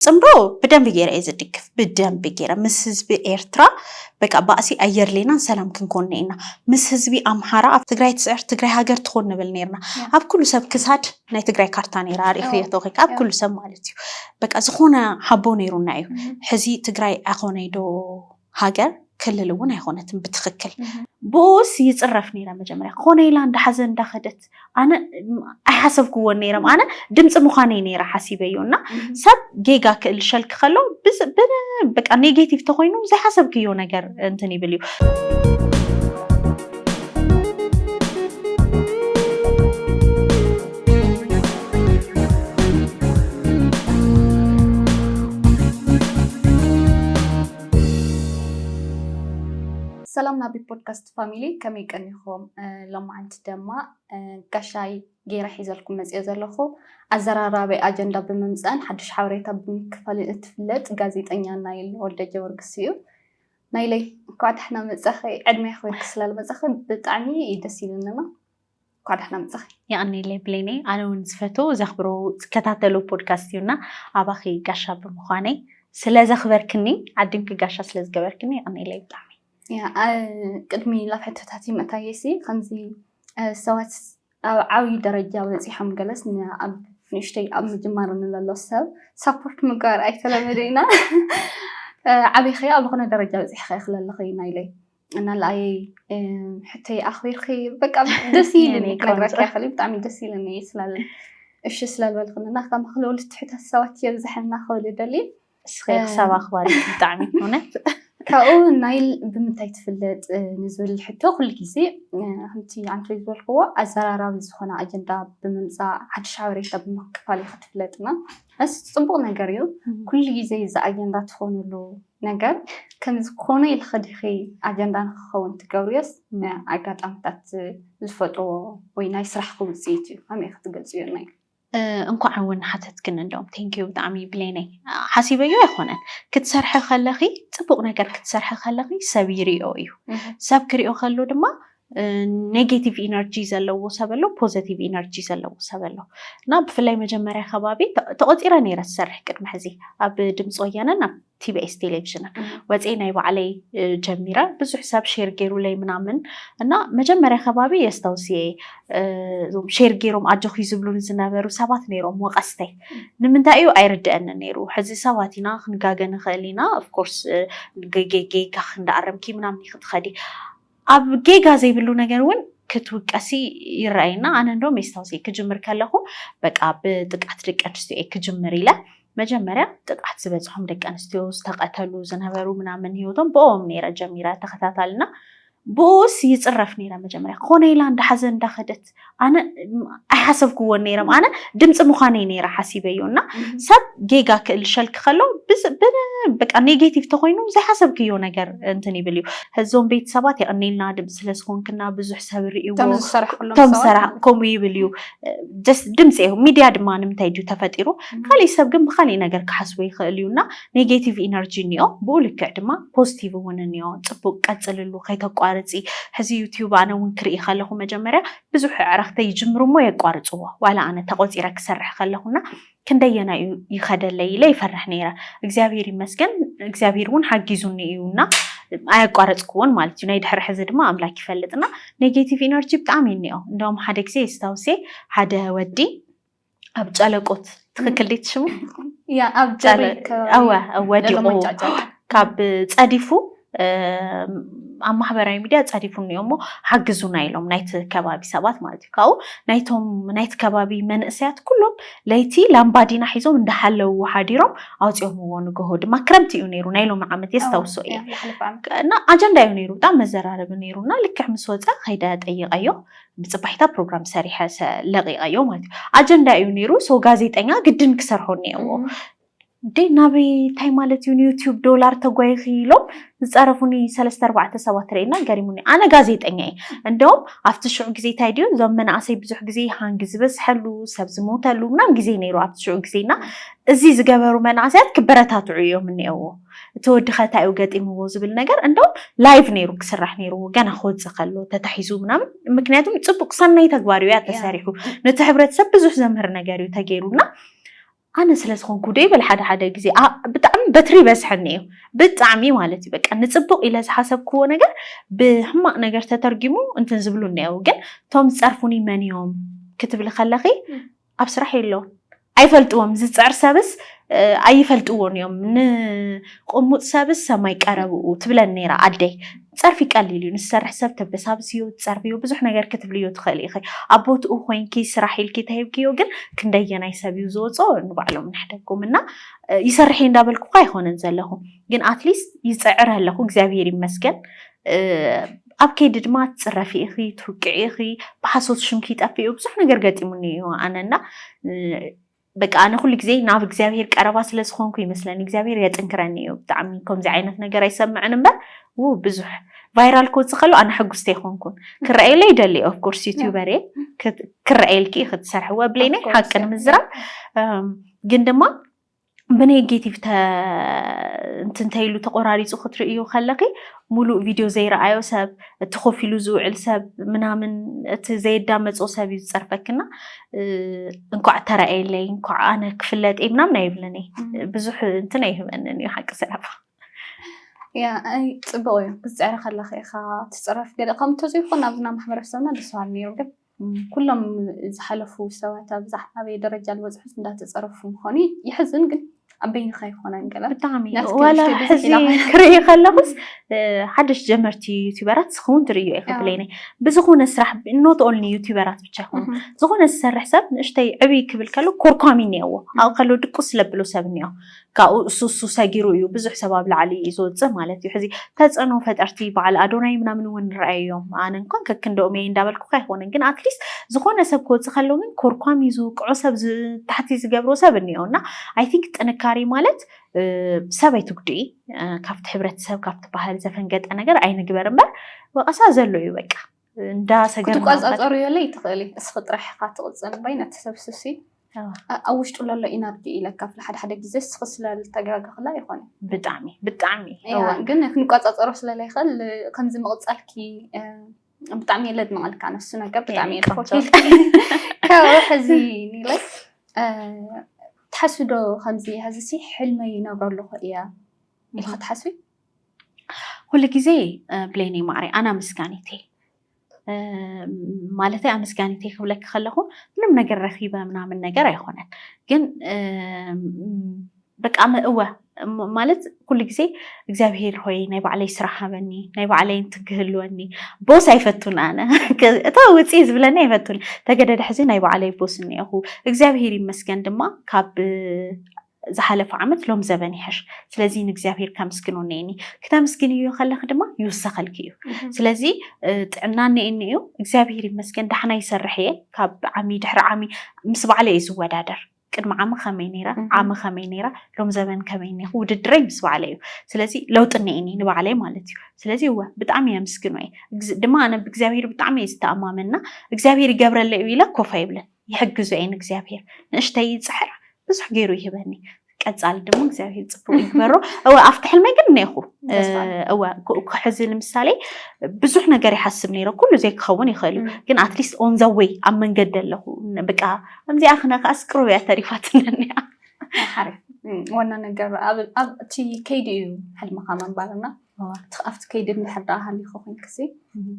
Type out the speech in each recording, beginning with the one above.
ጽምዶ ብደንቢ ገይረ እየ ዝድግፍ ብደንቢ ገይረ ምስ ህዝቢ ኤርትራ በቃ ባእሲ ኣየርሌናን ሰላም ክንኮን ኔና ምስ ህዝቢ ኣምሓራ ኣብ ትግራይ ትስዕር ትግራይ ሃገር ትኾን ንብል ኔርና ኣብ ኩሉ ሰብ ክሳድ ናይ ትግራይ ካርታ ኔራ ኣሪእኽዮ ተኺካ ኣብ ኩሉ ሰብ ማለት እዩ በቃ ዝኾነ ሓቦ ኔሩና እዩ ሕዚ ትግራይ ኣኾነይ ዶ ሃገር ክልል እውን ኣይኾነትን ብትክክል ብኡስ ይፅረፍ ነይረ መጀመርያ ክኾነ ኢላ እንዳሓዘ እንዳኸደት ኣነ ኣይሓሰብክዎን ነይረም ኣነ ድምፂ ምዃነይ ነይረ ሓሲበዮ እና ሰብ ጌጋ ክእል ሸልክ ከሎ በቃ ኔጌቲቭ ተኮይኑ ዘይሓሰብክዮ ነገር እንትን ይብል እዩ ሰላም ናቢ ፖድካስት ፋሚሊ ከመይ ቀኒኹም? ሎማዓንቲ ደማ ጋሻይ ገይረ ሒዘልኩም መፅኦ ዘለኹ ኣዘራራቢ ኣጀንዳ ብምምፃእን ሓዱሽ ሓበሬታ ብምክፋልን እትፍለጥ ጋዜጠኛ ናይል ወልደ ጀወርግስ እዩ። ናይለይ እንኳዕ ደሕና መፃኺ ዕድሜ ክብርኪ ስላልመፃኺ ብጣዕሚ እዩ ደስ ኢሉኒ። እንኳዕ ደሕና መፃኺ። የቐኔለይ ብሌነይ ኣነ እውን ዝፈቶ ዘኽብሮ ዝከታተሎ ፖድካስት እዩ እና ኣባኺ ጋሻ ብምዃነይ ስለ ዘኽበርክኒ ዓድንኪ ጋሻ ስለ ዝገበርክኒ የቐኔለይ ብጣዕሚ ቅድሚ ላብ ሕቶታት ይመታየ ሲ ከምዚ ሰባት ኣብ ዓብዪ ደረጃ በፂሖም ገለስ ኣብ ንእሽተይ ኣብ ምጅማር ንለሎ ሰብ ሳፖርት ምግባር ኣይተለመደ ኢና ዓብይኸ ኣብ ዝኾነ ደረጃ በፂሕኸ ክለለኸ ኢና ኢለይ እና ላኣየይ ሕተይ ኣኽቢርኪ በቃ ደስ ኢልኒ ክነግረኪ ያኽል ብጣዕሚ ደስ ኢልኒ ስላለ እሺ ስለልበልክንና ከም ክልውል ትሕተ ሰባት የብዝሐና ክብል ደሊ እስኸ ክሳብ ኣኽባሪ ብጣዕሚ ሆነ ካብኡ ናይል ብምንታይ ትፍለጥ ንዝብል ሕቶ ኩሉ ግዜ ከምቲ ኣንተ ዝበልክዎ ኣዘራራቢ ዝኾነ ኣጀንዳ ብምምፃእ ሓድሽ ሓበሬታ ብምክፋል እዩ ክትፍለጥና እስ ፅቡቅ ነገር እዩ ኩሉ ግዜ እዚ ኣጀንዳ ትኾኑሉ ነገር ከምዚ ኮነ ኢልኺ ዲኺ ኣጀንዳ ንኽኸውን ትገብርዮስ ንኣጋጣምታት ዝፈጥርዎ ወይ ናይ ስራሕኺ ውፅኢት እዩ? ከመይ ኢኺ ትገልፅዮ እኒኣ? እንኳዕ እውን ሓተትክኒ እንደውም thank you ብጣዕሚ ብሌነይ ሓሲበዮ ኣይኮነን ክትሰርሒ ከለኺ ፅቡቅ ነገር ክትሰርሒ ከለኺ ሰብ ይሪኦ እዩ ሰብ ክሪኦ ከሎ ድማ ኔጌቲቭ ኢነርጂ ዘለዎ ሰብ ኣሎ፣ ፖዘቲቭ ኢነርጂ ዘለዎ ሰብ ኣሎ እና ብፍላይ መጀመርያ ከባቢ ተቖፂረ ነይረ ዝሰርሕ ቅድሚ ሕዚ ኣብ ድምፂ ወያነን ኣብ ቲቢኤስ ቴሌቪዥንን ወፅኤ ናይ ባዕለይ ጀሚረ ብዙሕ ሰብ ሼር ገይሩለይ ምናምን እና መጀመርያ ከባቢ የስተውስ እየ እዞም ሼር ገይሮም ኣጆኺ ዝብሉን ዝነበሩ ሰባት ነይሮም ወቀስተይ ንምንታይ እዩ ኣይርድአኒ ነይሩ ሕዚ ሰባት ኢና ክንጋገ ንኽእል ኢና ኦፍኮርስ ጌጋ ክንዳኣረምኪ ምናምን ይክትኸዲ ኣብ ጌጋ ዘይብሉ ነገር ውን ክትውቀሲ ይረኣየና ኣነ እንደውም የስታውሰ ክጅምር ከለኹ በቃ ብጥቅዓት ደቂ ኣንስትዮ እየ ክጅምር ኢለ መጀመርያ ጥቕዓት ዝበፅሖም ደቂ ኣንስትዮ ዝተቐተሉ ዝነበሩ ምናምን ሂወቶም ብኦም ነይረ ጀሚረ ተኸታታልና ብኡስ ይፅረፍ ነይረ መጀመርያ ኮነ ኢላ እንዳሓዘ እንዳኸደት ኣነ ኣይሓሰብክዎን ነይረ ኣነ ድምፂ ምዃነይ ነይረ ሓሲበዮ እና ሰብ ጌጋ ክእልሸልክ ከሎ በቃ ኔጌቲቭ ተኮይኑ ዘይሓሰብክዮ ነገር እንትን ይብል እዩ እዞም ቤተሰባት የቀኔልና ድምፂ ስለዝኮንክና ብዙሕ ሰብ ርእዎ ቶም ሰራ ከምኡ ይብል እዩ ድምፂ እዩ ሚድያ ድማ ንምንታይ ድዩ ተፈጢሩ ካሊእ ሰብ ግን ብካሊእ ነገር ክሓስቦ ይኽእል እዩ እና ኔጌቲቭ ኢነርጂ እኒኦ ብኡ ልክዕ ድማ ፖዚቲቭ እውን እኒኦ ፅቡቅ ቀፅልሉ ከይተቋርፂ ሕዚ ዩትዩብ ኣነ እውን ክርኢ ከለኹ መጀመርያ ብዙሕ ኣዕረኽተይ ይጅምሩ እሞ የቋርፅዎ ዋላ ኣነ ተቆፂረ ክሰርሕ ከለኹ እና ክንደየናይ እዩ ይኸደለይ ኢለ ይፈርሕ ነይረ እግዚኣብሄር ይመስገን እግዚኣብሄር እውን ሓጊዙኒ እዩ እና ኣያቋረፅክዎን ማለት እዩ ናይ ድሕሪ ሕዚ ድማ ኣምላክ ይፈልጥ እና ኔጌቲቭ ኢነርጂ ብጣዕሚ እኒኦ እንደውም ሓደ ግዜ የስታውሴ ሓደ ወዲ ኣብ ጨለቆት ትክክል ዲት ሽሙ ኣብ ጀሪ ወዲቁ ካብ ፀዲፉ ኣብ ማህበራዊ ሚድያ ፀዲፉ እኒኦ እሞ ሓግዙና ኢሎም ናይቲ ከባቢ ሰባት ማለት እዩ ካብኡ ናይቶም ናይቲ ከባቢ መንእሰያት ኩሎም ለይቲ ላምባዲና ሒዞም እንዳሓለውዎ ሓዲሮም ኣውፅኦምዎ ንግሆ ድማ ክረምቲ እዩ ነይሩ ናይ ሎሚ ዓመት የስታውሶ እየ እና ኣጀንዳ እዩ ነይሩ ብጣዕሚ መዘራረቢ ነይሩ እና ልክዕ ምስ ወፀ ከይደ ጠይቀዮ ብፅባሒታ ፕሮግራም ሰሪሐ ለቂቀዮ ማለት እዩ ኣጀንዳ እዩ ነይሩ ሰው ጋዜጠኛ ግድን ክሰርሖ እኒኦዎ እንዴ ናበይ እንታይ ማለት እዩ ንዩትዩብ ዶላር ተጓይኺ ኢሎም ዝፀረፉኒ ሰለስተ ኣርባዕተ ሰባት ርእና ገሪሙኒ ኣነ ጋዜጠኛ እየ እንደውም ኣብቲ ሽዑ ግዜ እንታይ ድዩ እዞም መናእሰይ ብዙሕ ግዜ ሃንጊ ዝበዝሐሉ ሰብ ዝሞተሉ ምናም ግዜ ነይሩ ኣብቲ ሽዑ ግዜና እዚ ዝገበሩ መናእሰያት ክበረታትዑ እዮም እኒኦዎ እቲ ወዲ ከ ታይ እዩ ገጢምዎ ዝብል ነገር እንደውም ላይቭ ነይሩ ክስራሕ ነይርዎ ገና ክወፅእ ከሎ ተታሒዙ ምናምን ምክንያቱም ፅቡቅ ሰናይ ተግባር እዩ ያ ተሰሪሑ ነቲ ሕብረተሰብ ብዙሕ ዘምህር ነገር እዩ ተገይሩና ኣነ ስለ ዝኾንኩ ዶ ይብል ሓደ ሓደ ግዜ ኣ- ብጣዕሚ በትሪ ይበዝሐኒ እዩ ብጣዕሚ ማለት እዩ በቃ ንፅቡቅ ኢለ ዝሓሰብክዎ ነገር ብሕማቅ ነገር ተተርጊሙ እንትን ዝብሉ እኒአው ግን እቶም ዝፀርፉኒ መን እዮም ክትብሊ ከለኺ ኣብ ስራሕ የለውን ኣይፈልጥዎም ዝፅዕር ሰብስ ኣይፈልጥዎን እዮም ንቁሙጥ ሰብስ ሰማይ ቀረብኡ ትብለን ነይራ ኣደይ ፀርፊ ቀሊል እዩ ንዝሰርሕ ሰብ ተበሳብስዮ ትፀርፍዮ ብዙሕ ነገር ክትብልዮ ትኽእሊ ኢኺ ኣብ ቦትኡ ኮይንኪ ስራሕ ኢልኪ ተሂብክዮ ግን ክንደየናይ ሰብ እዩ ዝወፆ ንባዕሎም ንሕደጎም እና ይሰርሕ እየ እንዳበልኩ እኳ ኣይኮነን ዘለኹ ግን ኣትሊስት ይፅዕር ኣለኹ እግዚኣብሄር ይመስገን ኣብ ከይዲ ድማ ትፅረፊ ኢኺ፣ ትውቅዒ ኢኺ፣ ብሓሶት ሽምኪ ይጠፍእ እዩ፣ ብዙሕ ነገር ገጢሙኒ እዩ ኣነ እና በቃ ኣነ ኩሉ ግዜ ናብ እግዚኣብሄር ቀረባ ስለ ዝኾንኩ ይመስለኒ እግዚኣብሄር የጥንክረኒ እዩ ብጣዕሚ ከምዚ ዓይነት ነገር ኣይሰምዕን እምበር ው ብዙሕ ቫይራል ክወፅእ ከሎ ኣነ ሕጉስቲ ኣይኮንኩን ክረኣየለ ይደሊ ኦፍኮርስ ዩቲዩበር እየ ክረኣየልኪ ክትሰርሕዎ ብለይ ናይ ሓቂ ንምዝራብ ግን ድማ ብኔጌቲቭ እንትንተይሉ ተቆራሪፁ ክትርእዩ ከለኺ ሙሉእ ቪድዮ ዘይረኣዮ ሰብ እቲ ኮፍ ኢሉ ዝውዕል ሰብ ምናምን እቲ ዘየዳመፆ ሰብ እዩ ዝፀርፈክና እንኳዕ ተረኣየለይ እንኳዕ ኣነ ክፍለጥ እየ ምናምን ኣይብልን እየ ብዙሕ እንትን ኣይህበንን እዩ ሓቂ ስራባ ያ ፅቡቅ እዩ ክትፅዕሪ ከለኺ ኢኻ ትፅረፍ ገለ ከምቶ ዘይኮን ኣብና ማሕበረሰብና ደስ በሃሊ ነይሩ ግን ኩሎም ዝሓለፉ ሰባት ኣብዛ ኣበይ ደረጃ ዝበፅሑስ እንዳተፀረፉ ምዃኑ ይሕዝን ግን ኣብ በይንኻ ኣይኮነን ገለ ብጣዕሚ ዋላ ሕዚ ክርኢ ከለኹስ ሓደሽ ጀመርቲ ዩቲበራት ስኸውን ትርእዮ ኢኻ ብለይነ ብዝኾነ ስራሕ ኖት ኦንሊ ዩቲበራት ብቻ ይኾኑ ዝኾነ ዝሰርሕ ሰብ ንእሽተይ ዕብይ ክብል ከሎ ኮርኳሚ እኒኦዎ ኣብኡ ከሎ ድቁስ ስለብሎ ሰብ እኒኦ ካብኡ ሱሱ ሰጊሩ እዩ ብዙሕ ሰብ ኣብ ላዕሊ እዩ ዝወፅእ ማለት እዩ። ሕዚ ተፅዕኖ ፈጠርቲ በዓል ኣዶናይ ምናምን እውን ንረኣዮም ኣነ እንኳን ከክንደኦም እየ እንዳበልኩ ኣይኮነን፣ ግን ኣትሊስት ዝኾነ ሰብ ክወፅእ ከሎ ግን ኮርኳም ይዙ ቅዑ ሰብ ታሕቲ ዝገብሮ ሰብ እኒኦ እና ኣይ ቲንክ ጥንካሬ ማለት ሰብ ኣይትጉድኢ ካብቲ ሕብረተሰብ ካብቲ ባህል ዘፈንገጠ ነገር ኣይንግበር እምበር ወቐሳ ዘሎ እዩ በቃ። እንዳ ሰገር ክትቋፃፀሩ የለ ይትኽእሊ እስኺ ጥራሕ ኢኻ ትቕፅል እምበይ ነቲ ሰብ ስሲ ኣብ ውሽጡ ለሎ ኢናርጂ ኢለ ካብለ ሓደ ሓደ ግዜ እስኺ ስለልተጋገኽላ ይኾነ ብጣዕሚ ብጣዕሚ ግን ክንቋፃፀሮ ስለለይኽእል ከምዚ ምቕፃልኪ ብጣዕሚ የለ ድመቐልካ ነሱ ነገር ብጣዕሚ እየ ድፈትል ካብኡ ሕዚ ኒለይ ትሓስቢ ዶ ከምዚ ሕዚ ሲ ሕልመይ ይነብረ ኣለኹ እያ ኢልካ ትሓስቢ ኩሉ ግዜ ብሌነይ ማዕረይ ኣና ምስጋኒቴ ማለተይ ኣመስጋኒቴ ክብለኪ ከለኹ ምንም ነገር ረኺበ ምናምን ነገር ኣይኮነን ግን በቃ እወ ማለት ኩሉ ግዜ እግዚኣብሄር ሆይ ናይ ባዕለይ ስራሕ ሃበኒ ናይ ባዕለይ እንትክህልወኒ ቦስ ኣይፈቱን ኣነ እታ ውፅ ዝብለኒ ኣይፈቱን ተገደደ ሕዚ ናይ ባዕለይ ቦስ እኒአኹ እግዚኣብሄር ይመስገን ድማ ካብ ዝሓለፈ ዓመት ሎም ዘበን ይሐሽ ስለዚ ንእግዚኣብሔር ከምስግኖ ነኒ ክተምስግንዮ ከለክ ድማ ይውሰኸልክ እዩ ስለዚ ጥዕና ነኒ እዩ እግዚኣብሔር ይመስገን ዳሕና ይሰርሕ እየ ካብ ዓሚ ድሕሪ ዓሚ ምስ ባዕለ እዩ ዝወዳደር ቅድሚ ዓሚ ከመይ ነይረ ዓሚ ከመይ ነይረ ሎም ዘበን ከመይ ኔኹ ውድድረይ ምስ ባዕለ እዩ ስለዚ ለውጢ እኒኤኒ ንባዕለይ ማለት እዩ ስለዚ እወ ብጣዕሚ የምስግኖ እየ ድማ ኣነ ብእግዚኣብሄር ብጣዕሚ እየ ዝተኣማመና እግዚኣብሄር ይገብረለይ እዩ ኢለ ኮፍ ኣይብልን ይሕግዞ እየ ንእግዚኣብሄር ንእሽተይ ይፅሕር ብዙሕ ገይሩ ይህበኒ ቀፃሊ ድማ እግዚኣብሄር ፅቡቅ ይግበሮ እወ ኣብቲ ሕልመይ ግን እነይኹ እወ ሕዚ ንምሳሌ ብዙሕ ነገር ይሓስብ ነይረ ኩሉ ዘይክኸውን ይኽእል እዩ ግን ኣትሊስት ኦን ዘ ወይ ኣብ መንገዲ ኣለኹ ብቃ ከምዚኣ ክነ ከዓስ ቅሩብ እያ ተሪፋትነኒ ዋና ነገር ኣብቲ ከይዲ እዩ ሕልምኻ ምንባርና እዋእ ኣብቲ ከይዲ እንድሕር ደኣ ሃሊኹ ኮይንክሲ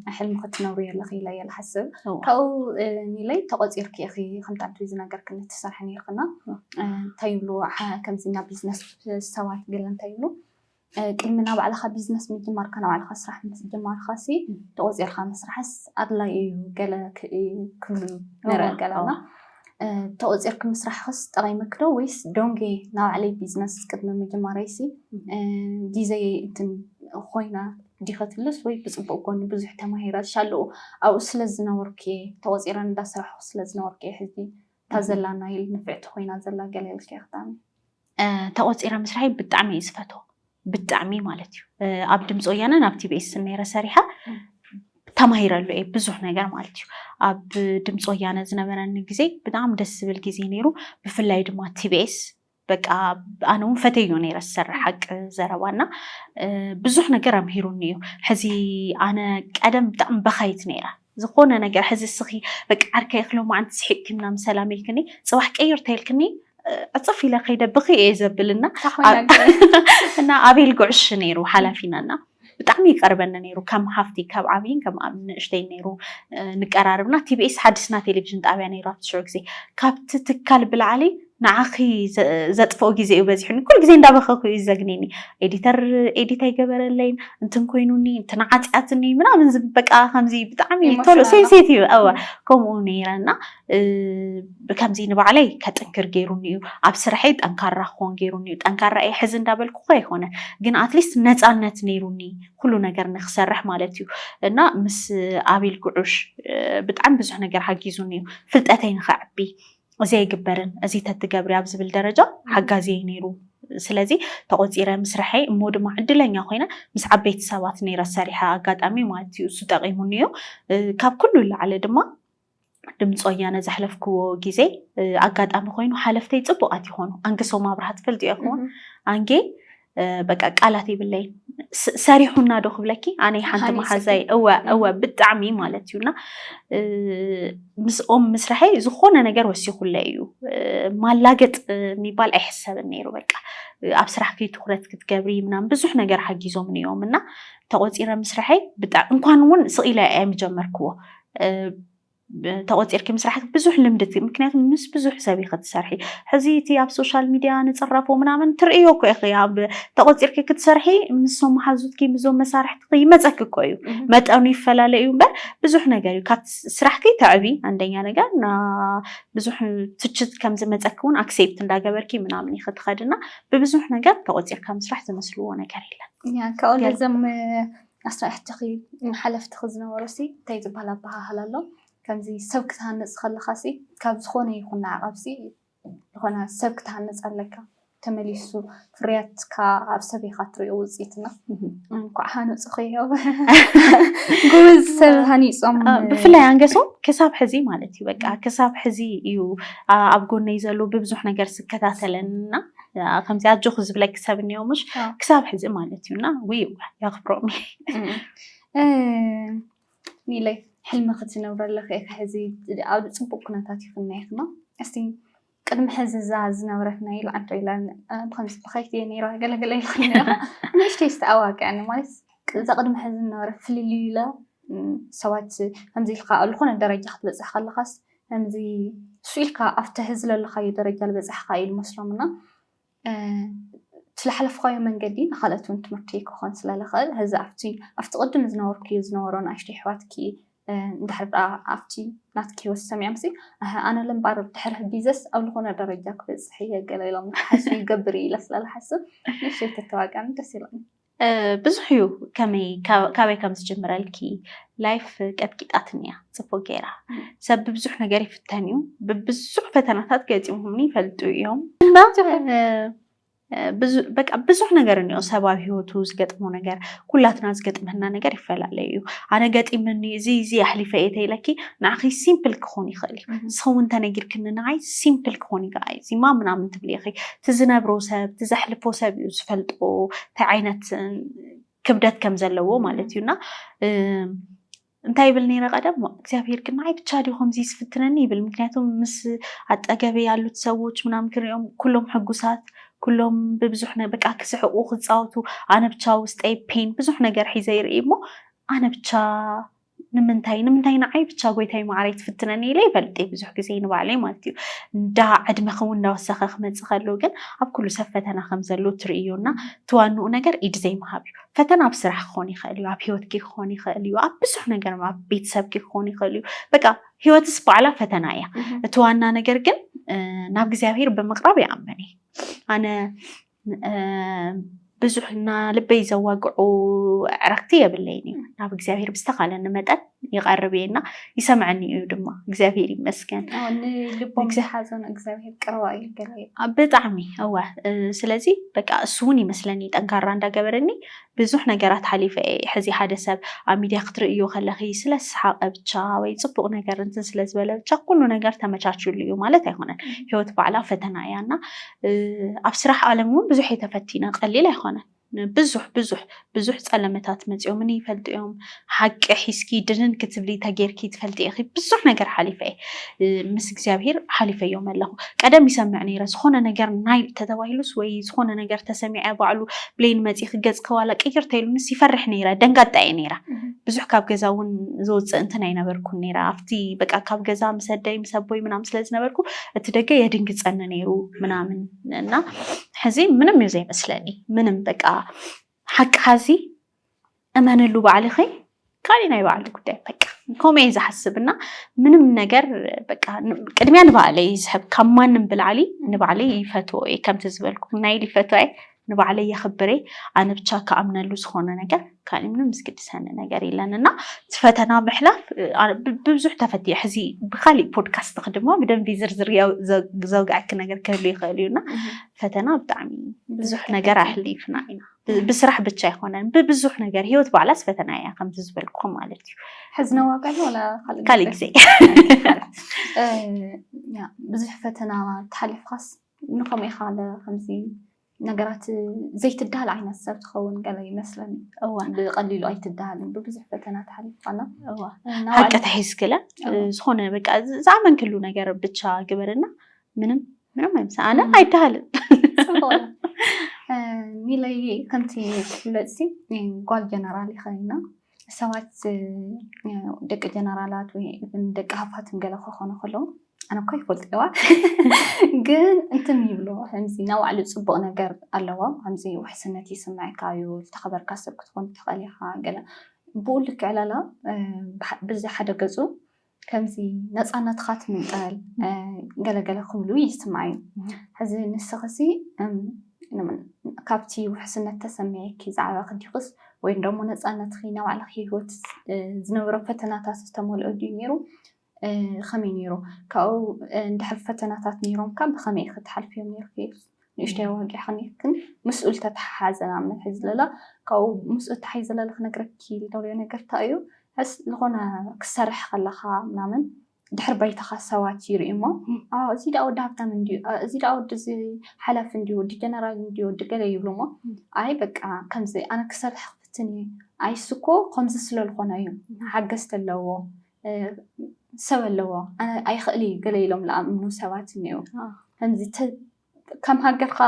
ናይ ሕልሚ ክትነብርዮ ኣለኺ ኢለዮ ልሓስብ እዋእ ካብኡ ኒለይ ተቖፂርኪ ኢኺ ከምቲ ኣንትሪ ዝነገርክኒ ትሰርሒ ኔርክና እንታይ ይብሉ ሓ- ከምዚ ናብ ቢዝነስ ሰባት ገለ እንታይ ይብሉ ቅድሚ ናብ ባዕልኻ ቢዝነስ ምጅማርካ ናብ ባዕልኻ ስራሕ ምስ ጀማርኻሲ ተቖፂርካ ምስራሕስ ኣድላይ እዩ ገለ ክ- ክብሉ ንርኢ ገለና ተቆፂርኪ ምስራሕኽስ ጠቂምኪ ዶ ወይስ ዶንጌ ናባዕለይ ቢዝነስ ቅድሚ ምጅማረይሲ ጊዘየይ እንትን ኾይና ዲኸ ትብልስ ወይ ብፅቡቅ ጎኒ ብዙሕ ተማሂረ ሻልኡ ኣብኡ ስለዝነበርኩ እየ ተቆፂረ እንዳስራሕኹ ስለዝነበርኩ እየ ሕዚ እታ ዘላና ኢል ንፍዕቲ ኾይና ዘላ ገለ ኢልኪ ኣክታሚ ተቆፂረ ምስራይ ብጣዕሚ እየ ዝፈትዎ ብጣዕሚ ማለት እዩ ኣብ ድምፂ ወያነን ኣብ ቲቤስ ነረ ሰሪሓ ተማሂረሉ እየ ብዙሕ ነገር ማለት እዩ ኣብ ድምፂ ወያነ ዝነበረኒ ግዜ ብጣዕሚ ደስ ዝብል ግዜ ነይሩ ብፍላይ ድማ ቲቤስ በቃ ኣነ እውን ፈተዮ ነይረ ዝሰርሕ ሓቂ ዘረባ እና ብዙሕ ነገር ኣምሂሩኒ እዩ ሕዚ ኣነ ቀደም ብጣዕሚ በካይት ነይረ ዝኾነ ነገር ሕዚ እስኺ በቃ ዓርከይ እኽ ሎማዓንቲ ስሒቅኪ ምናምን ሰላም ኢልክኒ ፅባሕ ቅይር ተይልክኒ ዕፅፍ ኢለ ከይደ ብኽይ እየ ዘብል እና እና ኣቤል ጉዕሽ ነይሩ ሓላፊና እና ብጣዕሚ ይቀርበኒ ነይሩ ከም ሃፍቲ ካብ ዓብይን ከም ንእሽተይ ነይሩ ንቀራርብና ቲቢኤስ ሓድስና ቴሌቭዥን ጣብያ ነይሩ ኣብቲ ሽዑ ግዜ ካብቲ ትካል ብላዕሊ ንዓኺ ዘጥፍኦ ግዜ እዩ በዚሑኒ ኩሉ ግዜ እንዳበኸኩ እዩ ዘግኒኒ ኤዲተር ኤዲት ኣይገበረለይን እንትን ኮይኑኒ እንትን ዓፅያትኒ ምናምን ዝብል በቃ ከምዚ ብጣዕሚ ቶሎ Emotional ሴንሴት እዩ እወ ከምኡ ነይረና እ፣ ብከምዚ ንባዕለይ ከጥንክር ገይሩኒ እዩ ኣብ ስርሐይ ጠንካራ ክኾን ገይሩኒ እዩ ጠንካራ እየ ሕዚ እንዳበልኩ እኮ ኣይኮነን ግን ኣትሊስት ነፃነት ነይሩኒ ኩሉ ነገር ንክሰርሕ ማለት እዩ እና ምስ ኣቤል ጉዑሽ እ፣ ብጣዕሚ ብዙሕ ነገር ሓጊዙኒ እዩ ፍልጠተይ ንኸዕቢ እዚ ኣይግበርን እዚ ተትገብሪ ኣብ ዝብል ደረጃ ሓጋዚ እየ ነይሩ ስለዚ ተቆፂረ ምስርሐይ እሞ ድማ ዕድለኛ ኮይነ ምስ ዓበይቲ ሰባት ነይረ ሰሪሐ ኣጋጣሚ ማለት እዩ እሱ ጠቂሙኒ እዩ ካብ ኩሉ ላዕሊ ድማ ድምፂ ወያነ ዘሕለፍክዎ ግዜ ኣጋጣሚ ኮይኑ ሓለፍተይ ፅቡቃት ይኾኑ ኣንግሶ ማብራሃት ፈልጥ ይኹን ኣንጌ በቃ ቃላት የብለይን ሰሪሑና ዶ ክብለኪ ኣነ ሓንቲ መሓዛይ እወ እወ ብጣዕሚ ማለት እዩና ምስኦም ምስራሐይ ዝኾነ ነገር ወሲኹለ እዩ ማላገጥ የሚባል ኣይሕሰብን ነይሩ በቃ ኣብ ስራሕኪ ትኩረት ክትገብሪ ምናምን ብዙሕ ነገር ሓጊዞም እዮም እና ተቆፂረ ምስራሐይ ብጣዕሚ እንኳን እውን ስቂለ ኣይምጀመርክዎ ተቖፂርኪ ምስራሕ ብዙሕ ልምዲ እቲ ምክንያቱ ምስ ብዙሕ ሰብ ኢኺ ትሰርሒ ሕዚ እቲ ኣብ ሶሻል ሚድያ ንፅረፎ ምናምን ትርእዮ እኮ ኢኺ ኣብ ተቖፂርኪ ክትሰርሒ ምሶም መሓዙትኪ ምዞም መሳርሕትኺ ይመፀኪ እኮ እዩ መጠኑ ይፈላለ እዩ እምበር ብዙሕ ነገር እዩ ካብ ስራሕኪ ተዕቢ አንደኛ ነገር ና ብዙሕ ትችት ከም ዝመፀኪ እውን ኣክሴፕት እንዳገበርኪ ምናምን ኢኺ ትኸድና ብብዙሕ ነገር ተቖፂርካ ምስራሕ ዝመስልዎ ነገር የለን ካብኡ ነዞም ኣስራሕትኺ ሓለፍትኺ ዝነበሩሲ እንታይ ዝባሃል ኣባሃህላ ኣሎ ከምዚ ሰብ ክትሃንጽ ከለኻሲ ካብ ዝኾነ ይኹን ንዓቐብሲ ዝኾነ ሰብ ክትሃንጽ ኣለካ ተመሊሱ ፍርያትካ ኣብ ሰብ ኢኻ ትሪኦ ውጽኢትና እንኳዕ ሃነጹኺ ዮ ጎበዝ ሰብ ሃኒጾም ብፍላይ ኣንገሶም ክሳብ ሕዚ ማለት እዩ በቃ ክሳብ ሕዚ እዩ ኣብ ጎነይ ዘሎ ብብዙሕ ነገር ዝከታተለንና ከምዚ ኣጆኹ ዝብለኪ ሰብ እኒኦ ምሽ ክሳብ ሕዚ ማለት እዩ እና ውይ የኽብሮም ኒለይ ሕልሚ ክትነብረለኺ ኢኺ ሕዚ ኣብ ፅቡቅ ኩነታት ይኹና ይኹና እስቲ ቅድሚ ሕዚ እዛ ዝነበረት ናይ ልዓንቶ ኢላ ብከምዚ ብኸይቲ እየ ነይራ ገለገለ ኢልክኒ ነይራ ንእሽተይ ዝተኣዋቅዐኒ ማለት እዛ ቅድሚ ሕዚ ዝነበረ ፍልልዩ ኢለ ሰባት ከምዚ ኢልካ ኣብ ዝኾነ ደረጃ ክትበፅሕ ከለኻስ ከምዚ ሱእ ኢልካ ኣብ ትሒ ዝለለኻዮ ደረጃ ልበጻሕኻ እዩ ልመስሎም እና ትለሓለፍኻዮ መንገዲ ንኻልኦትውን ትምህርቲ ክኾን ስለ ልኽእል ህዚ ኣብቲ ኣብቲ ቅድሚ ዝነበርክዮ ዝነበሮ ንኣሽቶ ኣሕዋትኪ እንድሕር ደኣ ኣብቲ ናትኪ ህይወት ሰሚዖምሲ ኣሀ ኣነ ልምባር ድሕር ህቢዘስ ኣብ ልኾነ ደረጃ ክበጽሕ እየ ገለ ኢሎም ንክሓስቡ ይገብር እዩ ኢለ ስለ ልሓስብ ንእሽተይ ተተዋጋኒ ደስ ኢሉኒ ብዙሕ እዩ ከመይ ካበይ ከም ዝጅምረልኪ ላይፍ ቀጥቂጣትኒ እያ ፅቡቅ ገይራ ሰብ ብብዙሕ ነገር ይፍተን እዩ ብብዙሕ ፈተናታት ገፂሞምኒ ይፈልጡ እዮም እና በቃ ብዙሕ ነገር እኒኦ ሰብ ኣብ ሂወቱ ዝገጥሞ ነገር ኩላትና ዝገጥመና ነገር ይፈላለዩ እዩ ኣነ ገጢምኒ እዚ እዚ ኣሕሊፈ እየ ተይለኪ ንዓኺ ሲምፕል ክኾን ይኽእል እዩ ንስኺ እውን ተነጊርክኒ ንዓይ ሲምፕል ክኾን ይከኣል እዩ እዚማ ምናምን ትብሊ ኢኺ እቲ ዝነብሮ ሰብ እቲ ዘሕልፎ ሰብ እዩ ዝፈልጦ እንታይ ዓይነት ክብደት ከም ዘለዎ ማለት እዩ እና እንታይ ይብል ነይረ ቀደም እግዚኣብሔር ግን ንዓይ ብቻ ድዩ ከምዚ ዝፍትነኒ ይብል ምክንያቱም ምስ ኣጠገበ ያሉት ሰዎች ምናምን ክሪኦም ኩሎም ሕጉሳት ኩሎም ብብዙሕ ነ- በቃ ክስሕቁ ክፃወቱ ኣነ ብቻ ውስጠይ ፔን ብዙሕ ነገር ሒዘ ይርኢ እሞ ኣነ ብቻ ንምንታይ ንምንታይ ንዓይ ብቻ ጎይታይ መዓረይ ትፍትነኒ ኢለ ይፈልጥ እየ ብዙሕ ግዜ ንባዕለይ ማለት እዩ እንዳ ዕድመኺ እውን እናወሰኸ ክመፅእ ከሎ ግን ኣብ ኩሉ ሰብ ፈተና ከም ዘሎ ትርእዩ እና እቲ ዋንኡ ነገር ኢድ ዘይምሃብ እዩ ፈተና ኣብ ስራሕ ክኾን ይኽእል እዩ ኣብ ሂወትኪ ክኾን ይኽእል እዩ ኣብ ብዙሕ ነገር ኣብ ቤተሰብኪ ክኾን ይኽእል እዩ በቃ ሂወትስ በዓላ ፈተና እያ እቲ ዋና ነገር ግን ናብ እግዚኣብሄር ብምቕራብ ይኣምን እየ ኣነ ብዙሕ እና ልበይ ዘዋግዑ ዕረክቲ የብለይን እዩ ናብ እግዚኣብሄር ብዝተካለኒ መጠን ይቀርብ እየ እና ይሰምዐኒ እዩ ድማ እግዚኣብሄር ይመስገን ንልቦም ዝሓዘኑ እግዚኣብሄር ቅረባ እዩ ገለ ብጣዕሚ እወ ስለዚ በቃ እሱ እውን ይመስለኒ ጠንካራ እንዳገበረኒ ብዙሕ ነገራት ሓሊፈ እየ ሕዚ ሓደ ሰብ ኣብ ሚድያ ክትርእዩ ከለኺ ስለ ዝሰሓቐ ብቻ ወይ ፅቡቕ ነገር እንትን ስለ ዝበለ ብቻ ኩሉ ነገር ተመቻችዩሉ እዩ ማለት ኣይኮነን ህይወት ባዕላ ፈተና እያ እና ኣብ ስራሕ ዓለም እውን ብዙሕ እየ ተፈቲነ ቀሊል ኣይኮነን ብዙሕ ብዙሕ ብዙሕ ፀለመታት መፂኦምኒ ይፈልጡ እዮም ሓቂ ሒዝኪ ድንን ክትብሊ ተጌርኪ ትፈልጢ ኢኺ ብዙሕ ነገር ሓሊፈ እየ ምስ እግዚኣብሄር ሓሊፈዮም ኣለኹ ቀደም ይሰምዕ ነይረ ዝኾነ ነገር ናይ ተተባሂሉስ ወይ ዝኾነ ነገር ተሰሚዐ ባዕሉ ብሌን መፂ ክገፅ ከዋላ ቅይር ተይሉንስ ይፈርሕ ነይረ ደንጋጣ እየ ነይረ ብዙሕ ካብ ገዛ እውን ዝወፅእ እንትን ኣይነበርኩን ነይረ ኣብቲ በቃ ካብ ገዛ ምሰደይ ምሰቦይ ምናም ስለዝነበርኩ እቲ ደገ የድንግፀኒ ነይሩ ምናምን እና ሕዚ ምንም እዩ ዘይመስለኒ ምንም በቃ ሓቂ ሓዚ እመንሉ ባዕልኺ ካልእ ናይ ባዕሉ ጉዳይ በቃ ከምኡ እየ ዝሓስብ እና ምንም ነገር በቃ ቅድሚያ ንባዕለይ ዝሕብ ካብ ማንም ብላዕሊ ንባዕለይ ይፈትዎ እየ ከምቲ ዝበልኩም ናይ ኢሊ ፈትዋ እየ ንባዕለይ የኽብር እየ ኣነ ብቻ ክኣምነሉ ዝኾነ ነገር ካልእ ምንም ዝግድሰኒ ነገር የለን እና እቲ ፈተና ምሕላፍ ብብዙሕ ተፈትየ ሕዚ ብካሊእ ፖድካስት ክድማ ብደንቢ ዝርዝር ዘውግዐኪ ነገር ክህሉ ይኽእል እዩ እና ፈተና ብጣዕሚ ብዙሕ ነገር ኣሕሊፍና ኢና ብስራሕ ብቻ ኣይኮነን ብብዙሕ ነገር ሂወት ባዕላስ ፈተና እያ ከምቲ ዝበልኩ ማለት እዩ ሕዚ ነዋቀል ወላ ካሊእ ግዜ ብዙሕ ፈተና ተሓሊፍካስ ንከመይ ኢካ ከምዚ ነገራት ዘይትዳሃል ዓይነት ሰብ ትኸውን ገለ ይመስለኒ ብቀሊሉ ኣይትዳሃልን ብብዙሕ ፈተና ተሓሊፍካና ሃቂ ተሒዝክለ ዝኮነ በቃ ዝኣመንክሉ ነገር ብቻ ግበርና ምንም ምንም ኣይምሰኣነ ኣይተሃልን ሚለይ ከምቲ ዝፍለጥሲ ጓል ጀነራል ይኸይና ሰባት ደቂ ጀነራላት ወይ ደቂ ሃፋት ገለ ክኾኑ ከለዉ ኣነ እኳ ይፈልጥዋ ግን እንትም ይብሎ ከምዚ ናብ ባዕሉ ፅቡቕ ነገር ኣለዎ ከምዚ ውሕስነት ይስምዐካ እዩ ዝተኸበርካ ሰብ ክትኾን ትኽእል ኢኻ ገለ ብኡ ልክዕ ላላ ብዚ ሓደ ገፁ ከምዚ ነፃነትኻ ትምንጠል ገለ ገለ ክብሉ ይስማዕ እዩ። ሕዚ ንስኽሲ ካብቲ ውሕስነት ተሰሚዒኪ ዝዓበኺ ዲኽስ ወይ ደሞ ነፃነትኺ ናይ ባዕልኺ ህይወት ዝነበሮ ፈተናታት ዝተመልኦ ድዩ ነይሩ? ከመይ ነይሩ? ካብኡ እንድሕር ፈተናታት ነይሮምካ ብኸመይ ኢኺ ትሓልፍዮም ነይርኪ? ንእሽተይ ኣዋጊዕ ከኒክን ምስኡ ዝተተሓሓዘ ንኣብነት ሕዚ ለላ ካብኡ ምስኡ ተሓይ ዘለለ ክነግረኪ ልደልዮ ነገር እንታይ እዩ ሕስ ዝኾነ ክሰርሕ ከለኻ ምናምን ድሕር ባይታኻ ሰባት ይርኢ እሞ እዚ ደኣ ወዲ ሃብታም እንድዩ እዚ ደኣ ወዲ እዚ ሓላፊ እንድዩ ወዲ ጀነራል እንድዩ ወዲ ገለ ይብሉ እሞ ኣይ በቃ ከምዚ ኣነ ክሰርሕ ክፍትን እዩ ኣይስኮ ከምዚ ስለልኾነ እዩ ሓገዝቲ ኣለዎ ሰብ ኣለዎ ኣይኽእል እዩ ገለ ኢሎም ዝኣምኑ ሰባት እኒአው ከምዚ ከም ሃገርካ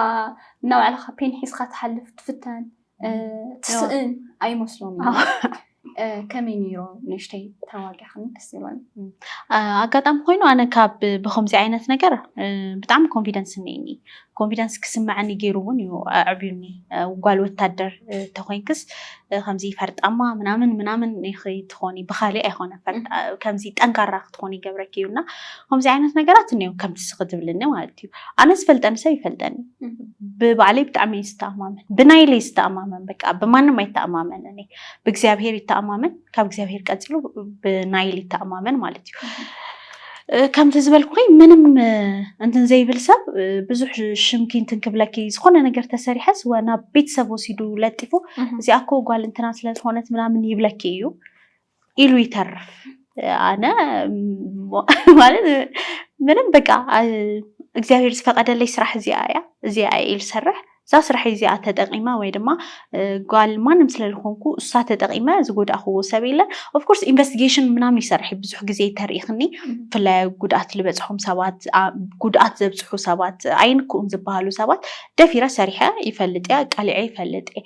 እና ባዕልካ ፔን ሒዝካ ትሓልፍ ትፍተን ትስእን ኣይመስሎም ከመይ ነይሮ ንእሽተይ ተዋጊዕክን ደስ ይብለኒ ኣጋጣሚ ኮይኑ ኣነ ካብ ብከምዚ ዓይነት ነገር ብጣዕሚ ኮንፊደንስ እኒኒ ኮንፊደንስ ክስመዐኒ ገይሩ እውን እዩ ኣዕብዩኒ ጓል ወታደር ተኮይንክስ ከምዚ ፈርጣማ ምናምን ምናምን ኢኺ ትኾኒ ብካሊእ ኣይኮነ ከምዚ ጠንካራ ክትኾኒ ይገብረኪ እዩ እና ከምዚ ዓይነት ነገራት እኒኦ ከምቲ ስኺ ትብልኒ ማለት እዩ ኣነ ዝፈልጠኒ ሰብ ይፈልጠኒ ብባዕለይ ብጣዕሚ እየ ዝተኣማመን ብናይለይ ዝተኣማመን በቃ ብማንም ኣይተኣማመንን እየ ብእግዚኣብሄር ይተኣማመን ካብ እግዚኣብሔር ቀፂሉ ብናይል ይተኣማመን ማለት እዩ ከምቲ ዝበልኩኸይ ምንም እንትን ዘይብል ሰብ ብዙሕ ሽምኪ እንትን ክብለኪ ዝኾነ ነገር ተሰሪሐስ ናብ ቤተሰብ ወሲዱ ለጢፉ እዚኣ እኮ ጓል እንትና ስለዝኾነት ምናምን ይብለኪ እዩ ኢሉ ይተርፍ። ኣነ ማለት ምንም በቃ እግዚኣብሔር ዝፈቀደለይ ስራሕ እዚኣ እያ እዚኣ ኢል ሰርሕ እዛ ስርሐይ እዚኣ ተጠቂመ ወይ ድማ ጓል ማንም ስለዝኾንኩ እሳ ተጠቂመ ዝጎዳእክዎ ሰብ የለን። ኦፍኮርስ ኢንቨስቲጌሽን ምናምን ይሰርሕ እዩ ብዙሕ ግዜ ተሪኢክኒ ብፍላይ ጉድኣት ዝበፅሖም ሰባት ጉድኣት ዘብፅሑ ሰባት ኣይንክኡን ዝበሃሉ ሰባት ደፊረ ሰሪሐ ይፈልጥ እየ ኣቃሊዐ ይፈልጥ እየ።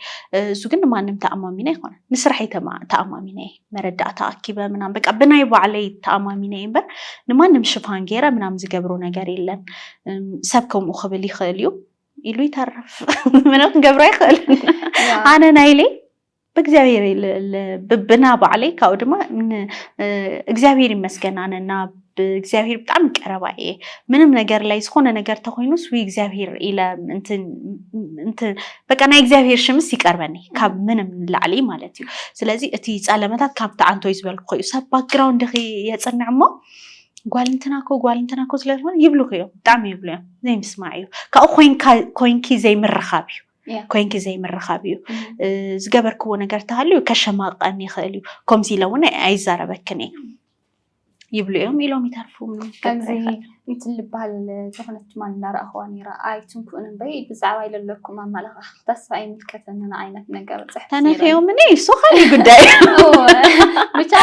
እሱ ግን ማንም ተኣማሚነ ይኮነ ንስራሐይ ተኣማሚነ እየ መረዳእታ ኣኪበ ምናምን በቃ ብናይ ባዕለይ ተኣማሚነ እየ እምበር ንማንም ሽፋን ገይረ ምናምን ዝገብሮ ነገር የለን። ሰብ ከምኡ ክብል ይኽእል እዩ። ኢሉ ይተርፍ ምነ ክንገብሮ ይኽእል ኣነ ናይ ኢለይ ብእግዚኣብሔር ብብና ባዕለይ ካብኡ ድማ እግዚኣብሔር ይመስገን ኣነ እና ብእግዚኣብሔር ብጣዕሚ ቀረባ እየ ምንም ነገር ላይ ዝኾነ ነገር ተኮይኑስ ውይ እግዚኣብሔር ኢለ በቃ ናይ እግዚኣብሔር ሽምስ ይቀርበኒ ካብ ምንም ንላዕሊ ማለት እዩ ስለዚ እቲ ፀለመታት ካብቲ ዓንቶይ ዝበልኩ እዩ ሰብ ባክግራውንድ የፅንዕ እሞ ጓል እንትና እኮ ጓል እንትና እኮ ስለዝኾነ ይብሉኽ እዮም ብጣዕሚ ይብሉ እዮም ዘይምስማዕ እዩ ካብኡ ኮንኪ ዘይምርኻብ እዩ ኮንኪ ዘይምርኻብ እዩ ዝገበርክዎ ነገር ተሃልዩ ከሸማቀኒ ይኽእል እዩ ከምዚ ኢለ እውን ኣይዛረበክን እየ ይብሉ እዮም ኢሎም ይተርፉ ከምዚ እንትልበሃል ዝኾነት ማን እናረኣኽዋ ነይራ ኣይትንኩእን እምበይ ብዛዕባ ኢለለኩም ኣመላኻኽ ተስፋ ኣይምልከተንን ዓይነት ነገር ፅሕፍ ተነፈዮምኒ እሱ ካሊእ ጉዳይ ብቻ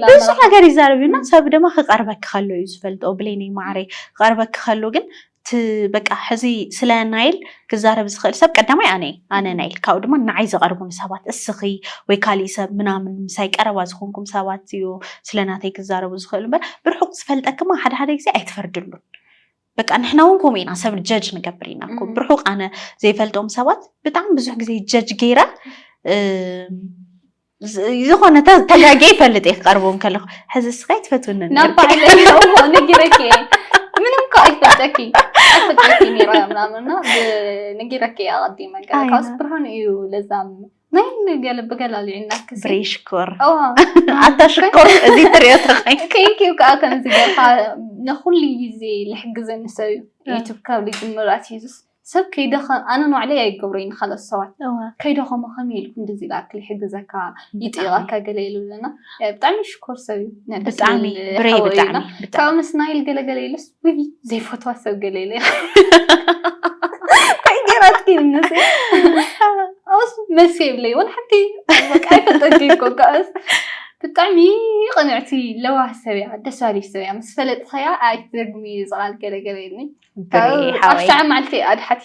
ብዙ ነገር ይዛረብ እዩና ሰብ ድማ ክቀርበክ ከሎ እዩ ዝፈልጦ ብሌኒ ማዕረ ክቀርበክ ከሎ ግን በቃ ሕዚ ስለ ናይል ክዛረብ ዝኽእል ሰብ ቀዳማይ ኣነ ኣነ ናይል ካብኡ ድማ ንዓይ ዘቐርቡኒ ሰባት እስኺ ወይ ካሊእ ሰብ ምናምን ምሳይ ቀረባ ዝኾንኩም ሰባት እዩ ስለናተይ ክዛረቡ ዝኽእሉ እምበር ብርሑቅ ዝፈልጠክማ ሓደ ሓደ ግዜ ኣይትፈርድሉን በቃ ንሕና እውን ከምኡ ኢና ሰብ ጀጅ ንገብር ኢና እኮ ብርሑቅ ኣነ ዘይፈልጦም ሰባት ብጣዕሚ ብዙሕ ግዜ ጀጅ ገይረ ዝኾነ ተጋጌ ይፈልጥ እየ ክቀርቦም ከለኹ ሕዚ ስኻይ ትፈትውኒ ንጊረኪ ምንም እኮ ኣይፈልጠኪ ኣይፈልጠኪ ነይረ ምናምንና ንጊረኪ ኣቐዲመ ካብስ ብርሃን እዩ ለዛም ናይ ንገለ ብገለ ኣልዒልና ክሲ ብሬ ሽኮር እዋ ኣታ ሽኮር እዚ ትሪኦ ተኸይ ቴንኪዩ ከዓ ከምዚ ገርካ ንኩሉ ግዜ ልሕግዘኒ ሰብ እዩ እ። ዩቱብ ካብ ልጅምር ኣትሒዙስ ሰብ ከይደኸ ኣነ ንባዕለይ ኣይገብሮ እዩ ንካልኦት ሰባት እዋ ከይደኸሞ ከመይ ኢልኩ እንደዚ ኢላ ክል ይሕግዘካ ይጥይቐካ ገለ ኢሉ ኣለና እ፣ ብጣዕሚ ሽኮር ሰብ እዩ ናይ ደስ ብጣዕሚ ዝብል ብሬ ሓወ እዩና። ብጣዕሚ ብጣዕሚ ካብኡ ምስ ናይል ገለገለ ኢሉስ ውይ ዘይፈትዋ ሰብ ገለ ኢለ እንታይ ገይራትኪ ንስ ኣስ መልሲ የብለይ ወላ ሓንቲ በቃ ኣይፈልጠኪ እኮ ከኣስ ብጣዕሚ ቅንዕቲ ለዋህ ሰብ እያ ደስ በሃሊት ሰብ እያ ምስ ፈለጥኸያ ኣይትደግሚ ዝቓል ገለገለ እኒ ብሬ ኣብ ሓወይ ሸዓ መዓልቲ ኣድሓቲ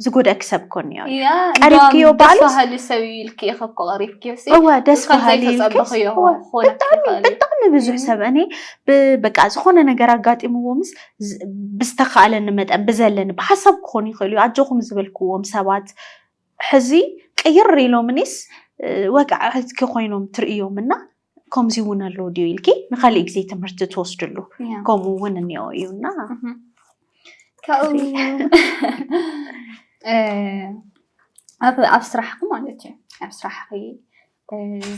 ዝጎደእኪ ሰብ እኮ እኒኦ እዩ። ያ ቀሪብክዮ እንደውም ደስ ባልስ በሃሊ ሰብ እዩ ኢልኪ ኢኺ እኮ ቀሪብክዮ ሲ እወ ደስ ከም በሃሊ ኢልክስ ዘይተጸበኽዮ እወ ክኾነኪ ብጣዕሚ ይኽእል እዩ። ብጣዕሚ ብዙሕ እም። ሰብ እኔ ብ- በቃ ዝኾነ ነገር ኣጋጢምዎ ምስ ዝ- ብዝተካእለኒ መጠን ብዘለኒ ብሓሳብ ክኾን ይኽእል እዩ ኣጆኹም ዝበልክዎም ሰባት ሕዚ ቅይር ኢሎምኒስ እ፣ ወቃዕቲ ኮይኖም ትርእዮም እና ከምዚ እውን ኣለዎ ድዩ ኢልኪ ንካሊእ ግዜ ትምህርቲ ትወስድሉ ከምኡ እውን እኒኦ እዩ እና ኣብ ስራሕኪ ማለት እዩ ኣብ ስራሕኪ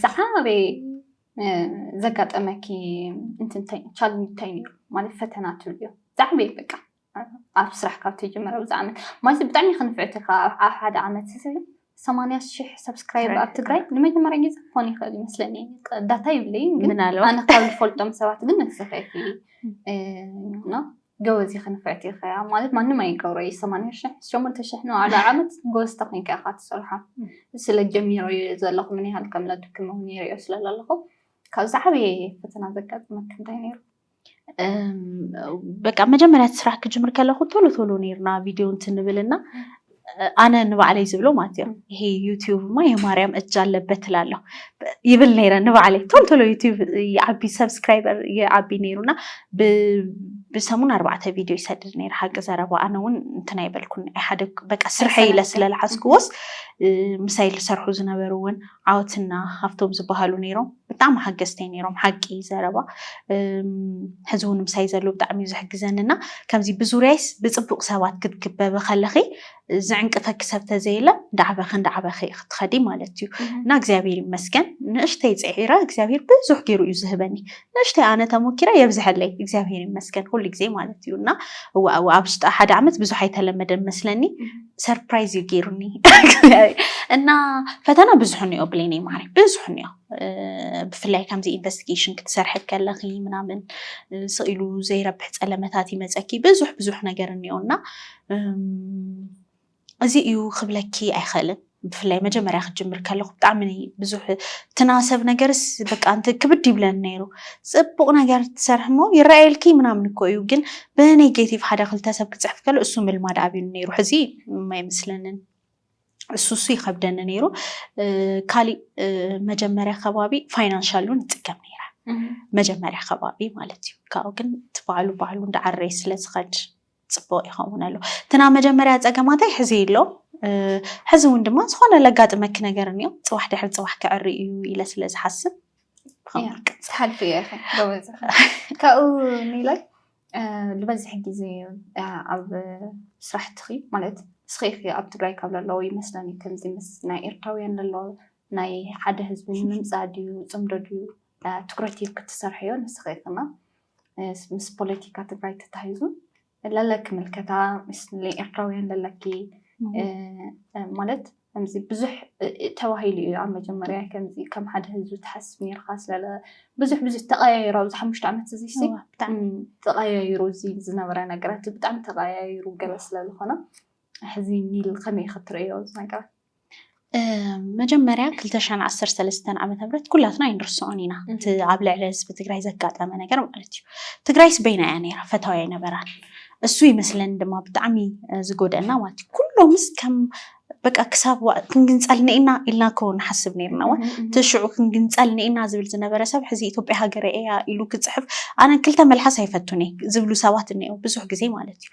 ዝዓበየ ዘጋጠመኪ ቻለንጅ እንታይ ነይሩ ማለት ፈተና ትብልዮ ዝዓበየ በቃ ኣብ ስራሕ ካብ ትጅምር ኣብዚ ዓመት ማለት ብጣዕሚ እየ ክንፍዕተካ ኣብ ሓደ ዓመት ሰማንያ ሽሕ ሰብስክራይብ ኣብ ትግራይ ንመጀመርያ ግዜ ክኾን ይኽእል ይመስለኒ ዳታ ይብለይ ግን ምናልባት። ኣነ ካብ ዝፈልጦም ሰባት ግን ንስኺ ኢኺ እና ጎበዝ ኢኺ ንፍዕቲ ኢኺ ማለት ማንም ኣይገብሮ እዩ ሰማንያ ሽሕ ሸሞንተ ሽሕ ንባዕሉ ዓመት ጎበዝ ተኮይንካ ኢኻ ትሰርሖ ስለ ጀሚሮ እዩ ዘለኹ ምን ያህል ከም ለድክም እውን ይሪኦ ስለ ዘለኹ ካብዚ ዓበየ ፈተና ዘጋጥመክ እንታይ ነይሩ በቃ መጀመርያ እቲ ስራሕ ክጅምር ከለኹ ቶሎ ቶሎ ነርና ቪድዮ እንትን ንብል እና ኣነ ንባዕለይ ዝብሎ ማለት እዮም ይሄ ዩትዩብማ የማርያም እጅ ኣለበት ትላለሁ ይብል ነይረ ንባዕለይ ቶሎ ቶሎ ዩትዩብ ይዓቢ ሰብስክራይበር ይዓቢ ነይሩ እና ብሰሙን ኣርባዕተ ቪድዮ ይሰድድ ነይረ ሓቂ ዘረባ ኣነ እውን እንትን ኣይበልኩን ሓደ በቃ ስርሐ ኢለ ስለልሓዝክዎስ ምሳይ ዝሰርሑ ዝነበሩ እውን ዓወትና ሃፍቶም ዝበሃሉ ነይሮም ብጣዕሚ ሓገዝተይ ነይሮም ሓቂ ዘረባ ሕዚ እውን ምሳይ ዘለዉ ብጣዕሚ እዩ ዝሕግዘኒ እና ከምዚ ብዙርያይስ ብፅቡቅ ሰባት ክትክበቢ ከለኺ ዝዕንቅፈኪ ሰብ ተዘየለ እንዳዓበኺ እንዳዓበኺ እየ ክትኸዲ ማለት እዩ እና እግዚኣብሔር ይመስገን ንእሽተይ ፅዒረ እግዚኣብሔር ብዙሕ ገይሩ እዩ ዝህበኒ ንእሽተይ ኣነ ተሞኪረ የብዝሐለይ እግዚኣብሔር ይመስገን ኩሉ ግዜ ማለት እዩ እና እዋእ እዋእ ኣብ ውሽጢ ሓደ ዓመት ብዙሕ ኣይተለመደን መስለኒ ሰርፕራይዝ እዩ ገይሩኒ እና ፈተና ብዙሕ እኒኦ ብሌኒ ማሪ ብዙሕ እኒኦ ብፍላይ ከምዚ ኢንቨስቲጌሽን ክትሰርሐ ከለኺ ምናምን ስኢሉ ዘይረብሕ ፀለመታት ይመፀኪ ብዙሕ ብዙሕ ነገር እኒኦ እና እዚ እዩ ክብለኪ ኣይኽእልን ብፍላይ መጀመርያ ክጅምር ከለኹ ብጣዕሚ ብዙሕ ትናሰብ ነገርስ በቃ እንት ክብድ ይብለን ነይሩ ጽቡቅ ነገር ትሰርሒ እሞ ይረኣየልኪ ምናምን እኮ እዩ ግን ብኔጌቲቭ ሓደ ክልተ ሰብ ክጽሕፍ ከሎ እሱ ምልማድ ኣቢሉ ነይሩ ሕዚ ኣይመስለንን እሱ እሱ ይኸብደኒ ነይሩ ካሊእ መጀመርያ ከባቢ ፋይናንሻል እውን ይጥቀም ነይረ መጀመርያ ከባቢ ማለት እዩ ካብኡ ግን እቲ ባዕሉ ባዕሉ እንዳዓረየ ስለ ዝኸድ ጽቡቕ ይኸውን ኣሎ እቲ ናብ መጀመርያ ጸገማተይ ሕዚ ኣሎ ሕዚ እውን ድማ ዝኾነ ለጋጥመኪ ነገር እኒኦ ጽባሕ ድሕሪ ጽባሕ ክዕሪ እዩ ኢለ ስለ ዝሓስብ ትሓልፊ እየ ጎበዝ ካብኡ ንላይ ዝበዝሕ ግዜ ኣብ ስራሕትኺ ማለት እስኺ ኢኺ ኣብ ትግራይ ካብ ለለዎ ይመስለኒ ከምዚ ምስ ናይ ኤርትራውያን ለሎ ናይ ሓደ ህዝቢ ንምምፃእ ድዩ ፅምዶ ድዩ ትኩረት ክትሰርሐዮ ንስኺ ኢኺና ምስ ፖለቲካ ትግራይ ተታሂዙ ለለኪ ምልከታ ምስ ኤርትራውያን ለለኪ ማለት ከምዚ ብዙሕ ተባሂሉ እዩ ኣብ መጀመርያ ከምዚ ከም ሓደ ህዝቢ ትሓስብ ነርካ ስለለ ብዙሕ ብዙሕ ተቀያይሩ ኣብዚ ሓሙሽተ ዓመት እዚ ብጣዕሚ ተቀያይሩ እዚ ዝነበረ ነገራት ብጣዕሚ ተቀያይሩ ገለ ስለዝኮነ ሕዚ ኒል ከመይ ክትርእዮ እዚ ነገራት መጀመርያ ክልተ ሽሕን ዓሰርተ ሰለስተን ዓመተ ምህረት ኩላትና ኣይንርስዖን ኢና እቲ ኣብ ልዕሊ ህዝቢ ትግራይ ዘጋጠመ ነገር ማለት እዩ። ትግራይስ በይና እያ ነይራ ፈታዊ ኣይነበራን። እሱ ይመስለኒ ድማ ብጣዕሚ እ፣ ዝጎደአና ማለት እዩ ኩሎምስ ከም በቃ ክሳብ ዋ- ክንግንፀል ኒኢና ኢልና እኮ ንሓስብ ነይርና እወ እቲ ሽዑ ክንግንፀል ኒኢና ዝብል ዝነበረ ሰብ ሕዚ ኢትዮጵያ ሃገረ እያ ኢሉ ክፅሕፍ ኣነ ክልተ መልሓስ ኣይፈቱን እየ ዝብሉ ሰባት እኒአው ብዙሕ ግዜ ማለት እዩ።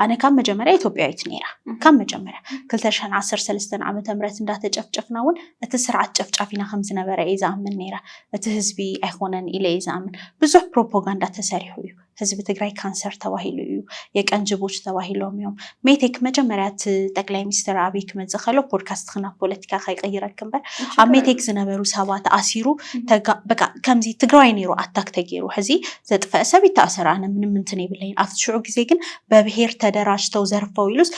ኣነ ካብ መጀመርያ ኢትዮጵያዊት ነይራ ካብ መጀመርያ ክልተ ሽሕን ዓሰርተ ሰለስተን ዓመተ ምህረት እንዳተጨፍጨፍና እውን እቲ ስርዓት ጨፍጫፊና ከም ዝነበረ እየ ዝኣምን ነይረ እቲ ህዝቢ ኣይኮነን ኢለ እየ ዝኣምን ብዙሕ ፕሮፓጋንዳ ተሰሪሑ እዩ ህዝቢ ትግራይ ካንሰር ተባሂሉ እዩ የቀንጅቦች ተባሂሎም እዮም ሜቴክ መጀመርያ እቲ ጠቅላይ ሚኒስትር ኣብይ ክመፅእ ከሎ ፖድካስት ክናብ ፖለቲካ ከይቀይረክ እምበር ኣብ ሜቴክ ዝነበሩ ሰባት ኣሲሩ ተጋ- በቃ ከምዚ ትግራዋይ ነይሩ ኣታክ ተገይሩ ሕዚ ዘጥፈእ ሰብ ይታእሰር ኣነ ምንም እንትን የብለይን ኣብቲ ሽዑ ግዜ ግን በብሄር ተደራጅተው ዘርፈው ኢሉስ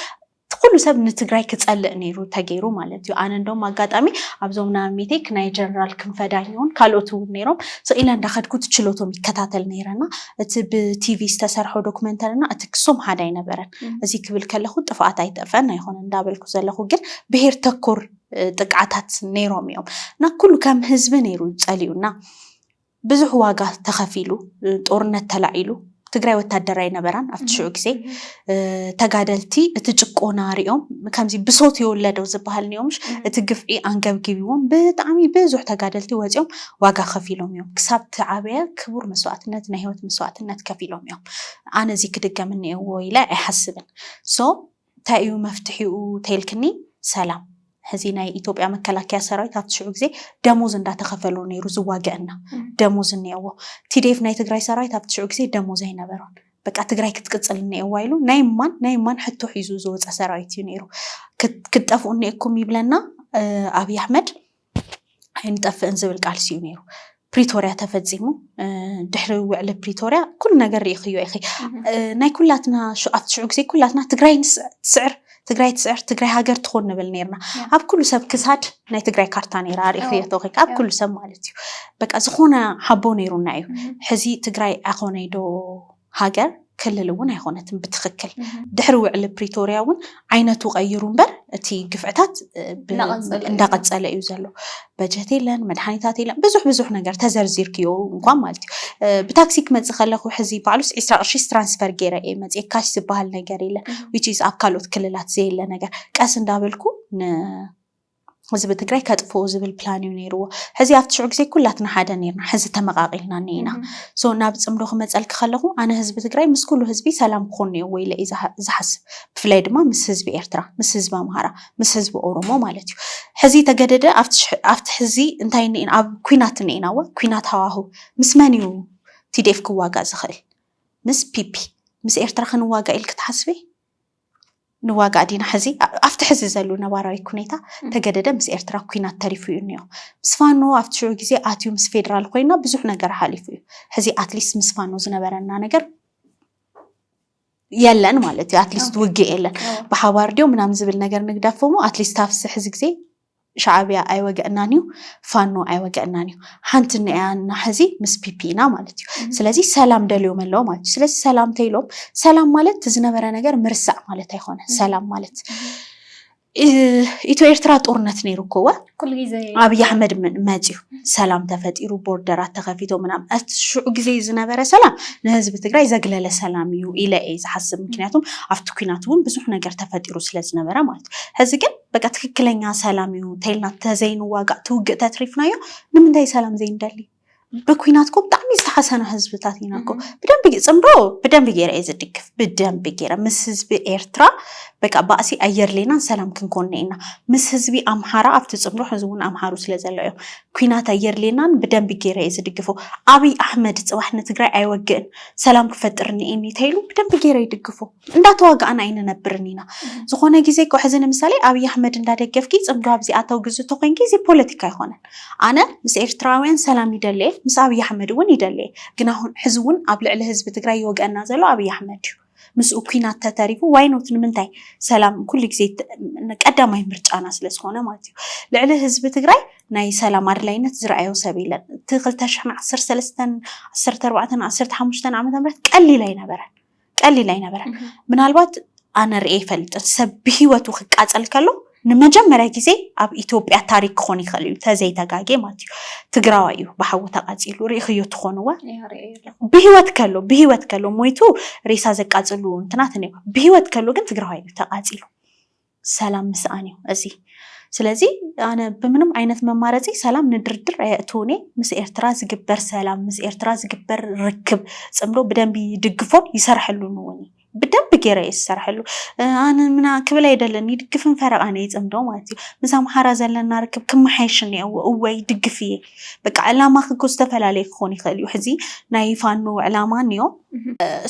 ኩሉ ሰብ ንትግራይ ክጸልእ ነይሩ ተገይሩ ማለት እዩ ኣነ እንደውም ኣጋጣሚ ኣብዞም ንኣብሜተይ ክናይ ጀነራል ክንፈዳኝ ይኹን ካልኦት እውን ነይሮም ስኢለ እንዳኸድኩ እቲ ችሎቶም ይከታተል ነይረና እቲ ብቲቪ ዝተሰርሖ ዶክመንተሪና እቲ ክሶም ሓደ ኣይነበረን እዚ ክብል ከለኹ ጥፍኣት ኣይተፈን ኣይኮነ እንዳበልኩ ዘለኹ ግን ብሄር ተኮር ጥቅዓታት ነይሮም እዮም እና ኩሉ ከም ህዝቢ ነይሩ ጸሊኡና ብዙሕ ዋጋ ተኸፊሉ ጦርነት ተላዒሉ ትግራይ ወታደር ኣይነበራን ኣብቲ ሽዑ ግዜ ተጋደልቲ እቲ ጭቆና ሪኦም ከምዚ ብሶት የወለዶ ዝበሃል ኒኦምሽ እቲ ግፍዒ ኣንገብጊብዎም ብጣዕሚ ብዙሕ ተጋደልቲ ወፂኦም ዋጋ ከፊሎም እዮም ክሳብ ትዓበየ ክቡር መስዋእትነት ናይ ሂወት መስዋእትነት ከፊሎም እዮም ኣነ እዚ ክድገም እኒኦዎ ኢለ ኣይሓስብን ሶ ታይ እዩ መፍትሒኡ ተይልክኒ ሰላም ሕዚ ናይ ኢትዮጵያ መከላከያ ሰራዊት ኣብቲ ሽዑ ግዜ ደሞዝ እንዳተኸፈሎ ነይሩ ዝዋገእ እና ደሞዝ እኒኦዎ ቲዴፍ ናይ ትግራይ ሰራዊት ኣብቲ ሽዑ ግዜ ደሞዝ ኣይነበሮን በቃ ትግራይ ክትቅፅል እኒኦዋ ኢሉ ናይ እማን ናይ እማን ሕቶ ሒዙ ዝወፀ ሰራዊት እዩ ነይሩ ክትጠፍኡ እኒኤኩም ይብለና ኣብይ ኣሕመድ ኣይንጠፍእን ዝብል ቃልሲ እዩ ነይሩ። ፕሪቶርያ ተፈፂሙ ድሕሪ ውዕሊ ፕሪቶርያ ኩሉ ነገር ርኢኽዮ ኢኺ። ናይ ኩላትና ኣብቲ ሽዑ ግዜ ኩላትና ትግራይ ትስዕር ትግራይ ትስዕር ትግራይ ሃገር ትኹን ንብል ነርና። ኣብ ኩሉ ሰብ ክሳድ ናይ ትግራይ ካርታ ነይራ ርኢኽዮ ተኺ ኣብ ኩሉ ሰብ ማለት እዩ። በቃ ዝኾነ ሓቦ ነይሩና እዩ። ሕዚ ትግራይ ኣይኾነይ ዶ ሃገር ክልል እውን ኣይኾነትን ብትኽክል። ድሕሪ ውዕሊ ፕሪቶርያ እውን ዓይነቱ ቀይሩ እምበር እቲ ግፍዕታት እንዳቐፀለ እዩ ዘሎ። በጀት የለን፣ መድሓኒታት የለን፣ ብዙሕ ብዙሕ ነገር ተዘርዚርክዮ እንኳን ማለት እዩ። ብታክሲ ክመፅእ ከለኹ ሕዚ ባዕሉስ ዒስራ ቅርሺስ ትራንስፈር ገይረ እየ መፅየ ካሽ ዝበሃል ነገር የለን። ዊች ኢዝ ኣብ ካልኦት ክልላት ዘየለ ነገር ቀስ እንዳበልኩ ን ህዝቢ ትግራይ ከጥፍኡ ዝብል ፕላን እዩ ነይርዎ። ሕዚ ኣብቲ ሽዑ ግዜ ኩላትና ሓደ ነርና፣ ሕዚ ተመቓቒልና እኒኤና። ሶ ናብ ፅምዶ ክመፀልኪ ከለኹ ኣነ ህዝቢ ትግራይ ምስ ኩሉ ህዝቢ ሰላም ክኾን እኒኦዎ ኢለ እየ ዝሓስብ። ብፍላይ ድማ ምስ ህዝቢ ኤርትራ፣ ምስ ህዝቢ ኣምሃራ፣ ምስ ህዝቢ ኦሮሞ ማለት እዩ። ሕዚ ተገደደ ኣብቲ ሕዚ እንታይ እኒኤና ኣብ ኩናት እኒኤና እወ ኩናት ሃዋሁ ምስ መን እዩ TDF ክዋጋእ ዝኽእል? ምስ ፒፒ ምስ ኤርትራ ክንዋጋእ ኢልኪ ትሓስቢ? ንዋጋእ ዲና ሕዚ ኣብቲ ሕዚ ዘሉ ነባራዊ ኩኔታ ተገደደ ምስ ኤርትራ ኩናት ተሪፉ እዩ እኒኦ ምስ ፋኖ ኣብቲ ሽዑ ግዜ ኣትዩ ምስ ፌደራል ኮይና ብዙሕ ነገር ሓሊፉ እዩ ሕዚ ኣትሊስት ምስ ፋኖ ዝነበረና ነገር የለን ማለት እዩ ኣትሊስት ውግእ የለን ብሓባር ድዮ ምናምን ዝብል ነገር ንግዳፎሞ ኣትሊስት ኣብቲ ሕዚ ግዜ ሻዓብያ ኣይወገእናን እዩ ፋኖ ኣይወገእናን እዩ ሓንቲ ንያ እና ሐዚ ምስ ፒፒ ኢና ማለት እዩ ስለዚ ሰላም ደልዮም ኣለዎ ማለት እዩ ስለዚ ሰላም ተይሎም ሰላም ማለት ትዝነበረ ነገር ምርሳዕ ማለት ኣይኮነ ሰላም ማለት ኢትዮ ኤርትራ ጦርነት ነይሩ እኮ ወ ኣብይ ኣሕመድ መፅዩ ሰላም ተፈጢሩ ቦርደራት ተኸፊቶ ምናም እቲ ሽዑ ግዜ ዝነበረ ሰላም ንህዝቢ ትግራይ ዘግለለ ሰላም እዩ ኢለ እየ ዝሓስብ ምክንያቱም ኣብቲ ኩናት እውን ብዙሕ ነገር ተፈጢሩ ስለዝነበረ ማለት እዩ ሕዚ ግን በቃ ትክክለኛ ሰላም እዩ እንተይልና ተዘይንዋጋእ ትውግእ ተትሪፍናዮ ንምንታይ ሰላም ዘይንደሊ ብኩናት ኮ ብጣዕሚ ዝተሓሰና ህዝብታት ኢና ኮ ብደንቢ ፅምዶ ብደንቢ ገይረ እየ ዝድግፍ ብደንቢ ገይረ ምስ ህዝቢ ኤርትራ በቃ ባእሲ ኣየድሌናን ሰላም ክንኮነ ኢና ምስ ህዝቢ ኣምሓራ ኣብቲ ፅምዶ ሕዚ እውን ኣምሓሩ ስለ ዘሎ እዮም ኩናት ኣየድሌናን ብደንቢ ገይረ እየ ዝድግፎ ኣብይ ኣሕመድ ፅባሕ ንትግራይ ኣይወግእን ሰላም ክፈጥር ንኤኒ ተይሉ ብደንቢ ገይረ ይድግፎ እንዳተዋጋእና ኣይንነብርን ኢና ዝኮነ ግዜ እኮ ሕዚ ንምሳሌ ኣብይ ኣሕመድ እንዳደገፍኪ ጽምዶ ኣብዚ ኣተው ግዚ ተኮንኪ እዚ ፖለቲካ ኣይኮነን ኣነ ምስ ኤርትራውያን ሰላም ይደሊ እየ ምስ ኣብይ ኣሕመድ እውን ይደሊ እየ ግና ሕዚ እውን ኣብ ልዕሊ ህዝቢ ትግራይ ይወግኣና ዘሎ ኣብይ ኣሕመድ እዩ ምስኡ ኩናት ተተሪፉ ዋይ ኖት ንምንታይ ሰላም ኩሉ ግዜ ቀዳማይ ምርጫና ስለ ዝኮነ ማለት እዩ ልዕሊ ህዝቢ ትግራይ ናይ ሰላም ኣድላይነት ዝረኣዮ ሰብ የለን እቲ 2ዓሰርተ ዓሰርተ ኣርባዕተን ዓሰርተ ሓሙሽተን ዓመተ ምህረት ቀሊል ኣይነበረን ቀሊል ኣይነበረን። ምናልባት ኣነ ርእየ ይፈልጥን ሰብ ብሂወቱ ክቃፀል ከሎ ንመጀመርያ ግዜ ኣብ ኢትዮጵያ ታሪክ ክኾን ይኽእል እዩ ተዘይተጋጌ ማለት እዩ ትግራዋይ እዩ ብሓዊ ተቃፂሉ ርኢኽዮ ትኾንዋ ብሂወት ከሎ ብሂወት ከሎ ሞይቱ ሬሳ ዘቃፅሉ እንትናት እኒኦ ብሂወት ከሎ ግን ትግራዋይ እዩ ተቃፂሉ ሰላም ምስኣን እዩ እዚ። ስለዚ ኣነ ብምንም ዓይነት መማረፂ ሰላም ንድርድር ኣየእትውን እየ። ምስ ኤርትራ ዝግበር ሰላም፣ ምስ ኤርትራ ዝግበር ርክብ፣ ፅምዶ ብደንቢ ይድግፎን ይሰርሐሉን እውን እዩ። ብደንቢ ገይረ እየ ዝሰርሐሉ ኣነ ምና ክብል ኣይደልን ይድግፍን ፈረቓን እየ ፅምዶ ማለት እዩ ምስ ኣምሓራ ዘለና ርክብ ክመሓየሽ እኒኦዎ እወ ይድግፍ እየ በቃ ዕላማኺ እኮ ዝተፈላለየ ክኾን ይኽእል እዩ ሕዚ ናይ ፋኖ ዕላማ እኒኦ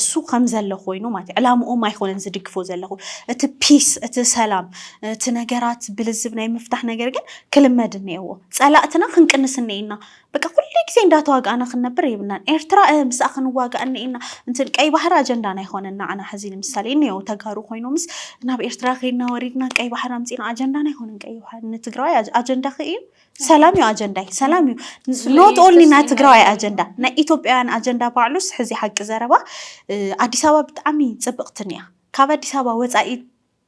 እሱ ከምዘለ ኮይኑ ማለት እዩ ዕላምኦም ኣይኮነን ዝድግፎ ዘለኹ እቲ ፒስ እቲ ሰላም እቲ ነገራት ብልዝብ ናይ ምፍታሕ ነገር ግን ክልመድ እኒኤዎ ፀላእትና ክንቅንስ እኒኤና በቃ ኩሉ ግዜ እንዳተዋጋእና ክንነብር የብልናን ኤርትራ እ ምስኣ ክንዋጋእ እኒኤና እንትን ቀይ ባሕሪ ኣጀንዳና ኣይኮነን ንዓና ሕዚ ንምሳሌ እኒኦ ተጋሩ ኮይኖምስ ናብ ኤርትራ ከይድና ወሪድና ቀይ ባሕሪ ኣምፂና ኣጀንዳና ኣይኮነን ቀይ ባሕሪ ንትግራዋይ ኣጀንዳኺ እዩ ሰላም እዩ ኣጀንዳይ ሰላም እዩ ኖት ኦንሊ ናይ ትግራዋይ ኣጀንዳ ናይ ኢትዮጵያውያን ኣጀንዳ ባዕሉስ ሕዚ ሓቂ ዘረባ ኣዲስ ኣበባ ብጣዕሚ ፅብቕትን እያ ካብ ኣዲስ ኣበባ ወፃኢ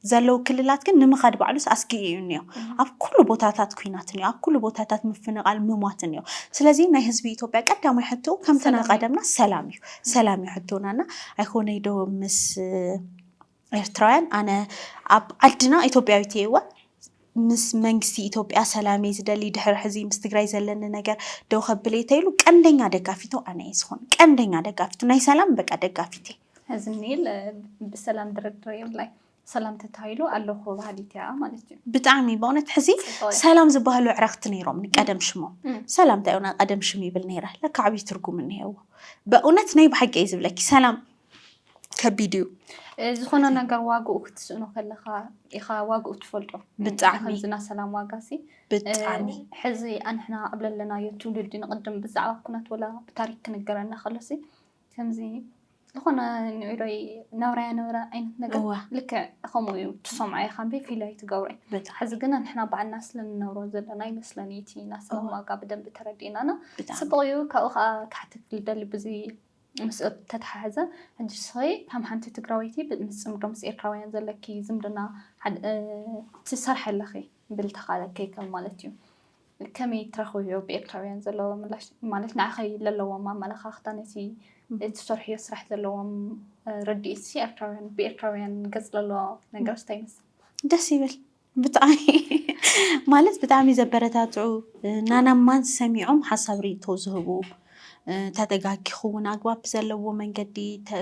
ዘለዉ ክልላት ግን ንምኻድ ባዕሉስ ኣስጊ እዩ እኒኦ ኣብ ኩሉ ቦታታት ኩናት እኒኦ ኣብ ኩሉ ቦታታት ምፍንቓል ምሟት እኒኦ ስለዚ ናይ ህዝቢ ኢትዮጵያ ቀዳማይ ሕቶ ከምተናቀደምና ሰላም እዩ ሰላም እዩ ሕቶናና ኣይኮነይ ዶ ምስ ኤርትራውያን ኣነ ኣብ ዓድና ኢትዮጵያዊት እየ እወ ምስ መንግስቲ ኢትዮጵያ ሰላም እየ ዝደሊ ድሕሪ ሕዚ ምስ ትግራይ ዘለኒ ነገር ደው ከብል እየ ተይሉ ቀንደኛ ደጋፊቱ ኣነ እየ ዝኾን ቀንደኛ ደጋፊቱ ናይ ሰላም በቃ ደጋፊት እየ እዚ ኒል ብሰላም ድርድር የብላይ ሰላም ተታሂሉ ኣለኹ ባህሊት እያ ማለት እዩ ብጣዕሚ በእውነት ሕዚ ሰላም ዝበሃሉ ዕረኽቲ ነይሮም ቀደም ሽሞ ሰላም እንታይ ሆና ቀደም ሽም ይብል ነይረ ለካ ዓብዪ ትርጉም እኒሄዎ በእውነት ናይ ብሓቂ እዩ ዝብለኪ ሰላም ከቢድ እዩ። ዝኾነ ነገር ዋግኡ ክትስእኖ ከለኻ ኢኻ ዋግኡ ትፈልጦ። ብጣዕሚ። ከምዚ ናይ ሰላም ዋጋሲ ብጣዕሚ ሕዚ ኣንሕና ኣብ ለለናዮ ትውልዲ ንቕድም ብዛዕባ ኩነት ወላ ብታሪክ ክንገረና ከሎሲ ከምዚ ዝኾነ ንዒሮይ ናብራያ ነበረ ዓይነት ነገር እወ። ልክዕ ከምኡ እዩ ትሰምዖ ኢኻ እምበይ ፊል ኣይትገብሮ እዩ። ብጣዕሚ ሕዚ ግን ኣንሕና ባዕልና ስለ ንነብሮ ዘለና ይመስለኒ እቲ ናይ ሰላም ዋጋ ብደንቢ ተረዲእናና ብጣዕሚ ጽቡቕ እዩ ካብኡ ከዓ ክሓተትክ ዝደሊ ብዚ ምስኡ ብተተሓሓዘ ሕጂ ንስኺ ከም ሓንቲ ትግራወይቲ ምስ ፅምዶ ምስ ኤርትራውያን ዘለኪ ዝምድና ትሰርሒ ኣለኺ ብልተኻ ከይከም ማለት እዩ ከመይ ትረኽብዮ ብኤርትራውያን ዘለዎ ምላሽ ማለት ንዓኺ ዘለዎም ኣመለኻኽታ ነቲ እትሰርሕዮ ስራሕ ዘለዎም ርድኢት ሲ ኤርትራውያን ብኤርትራውያን ገጽ ለሎ ነገር እንታይ ይመስል? ደስ ይብል ብጣዕሚ ማለት ብጣዕሚ ዘበረታትዑ ናና ማንስ ሰሚዖም ሓሳብ ርኢቶ ዝህቡ ተደጋጊኹ እውን ኣግባብ ብዘለዎ መንገዲ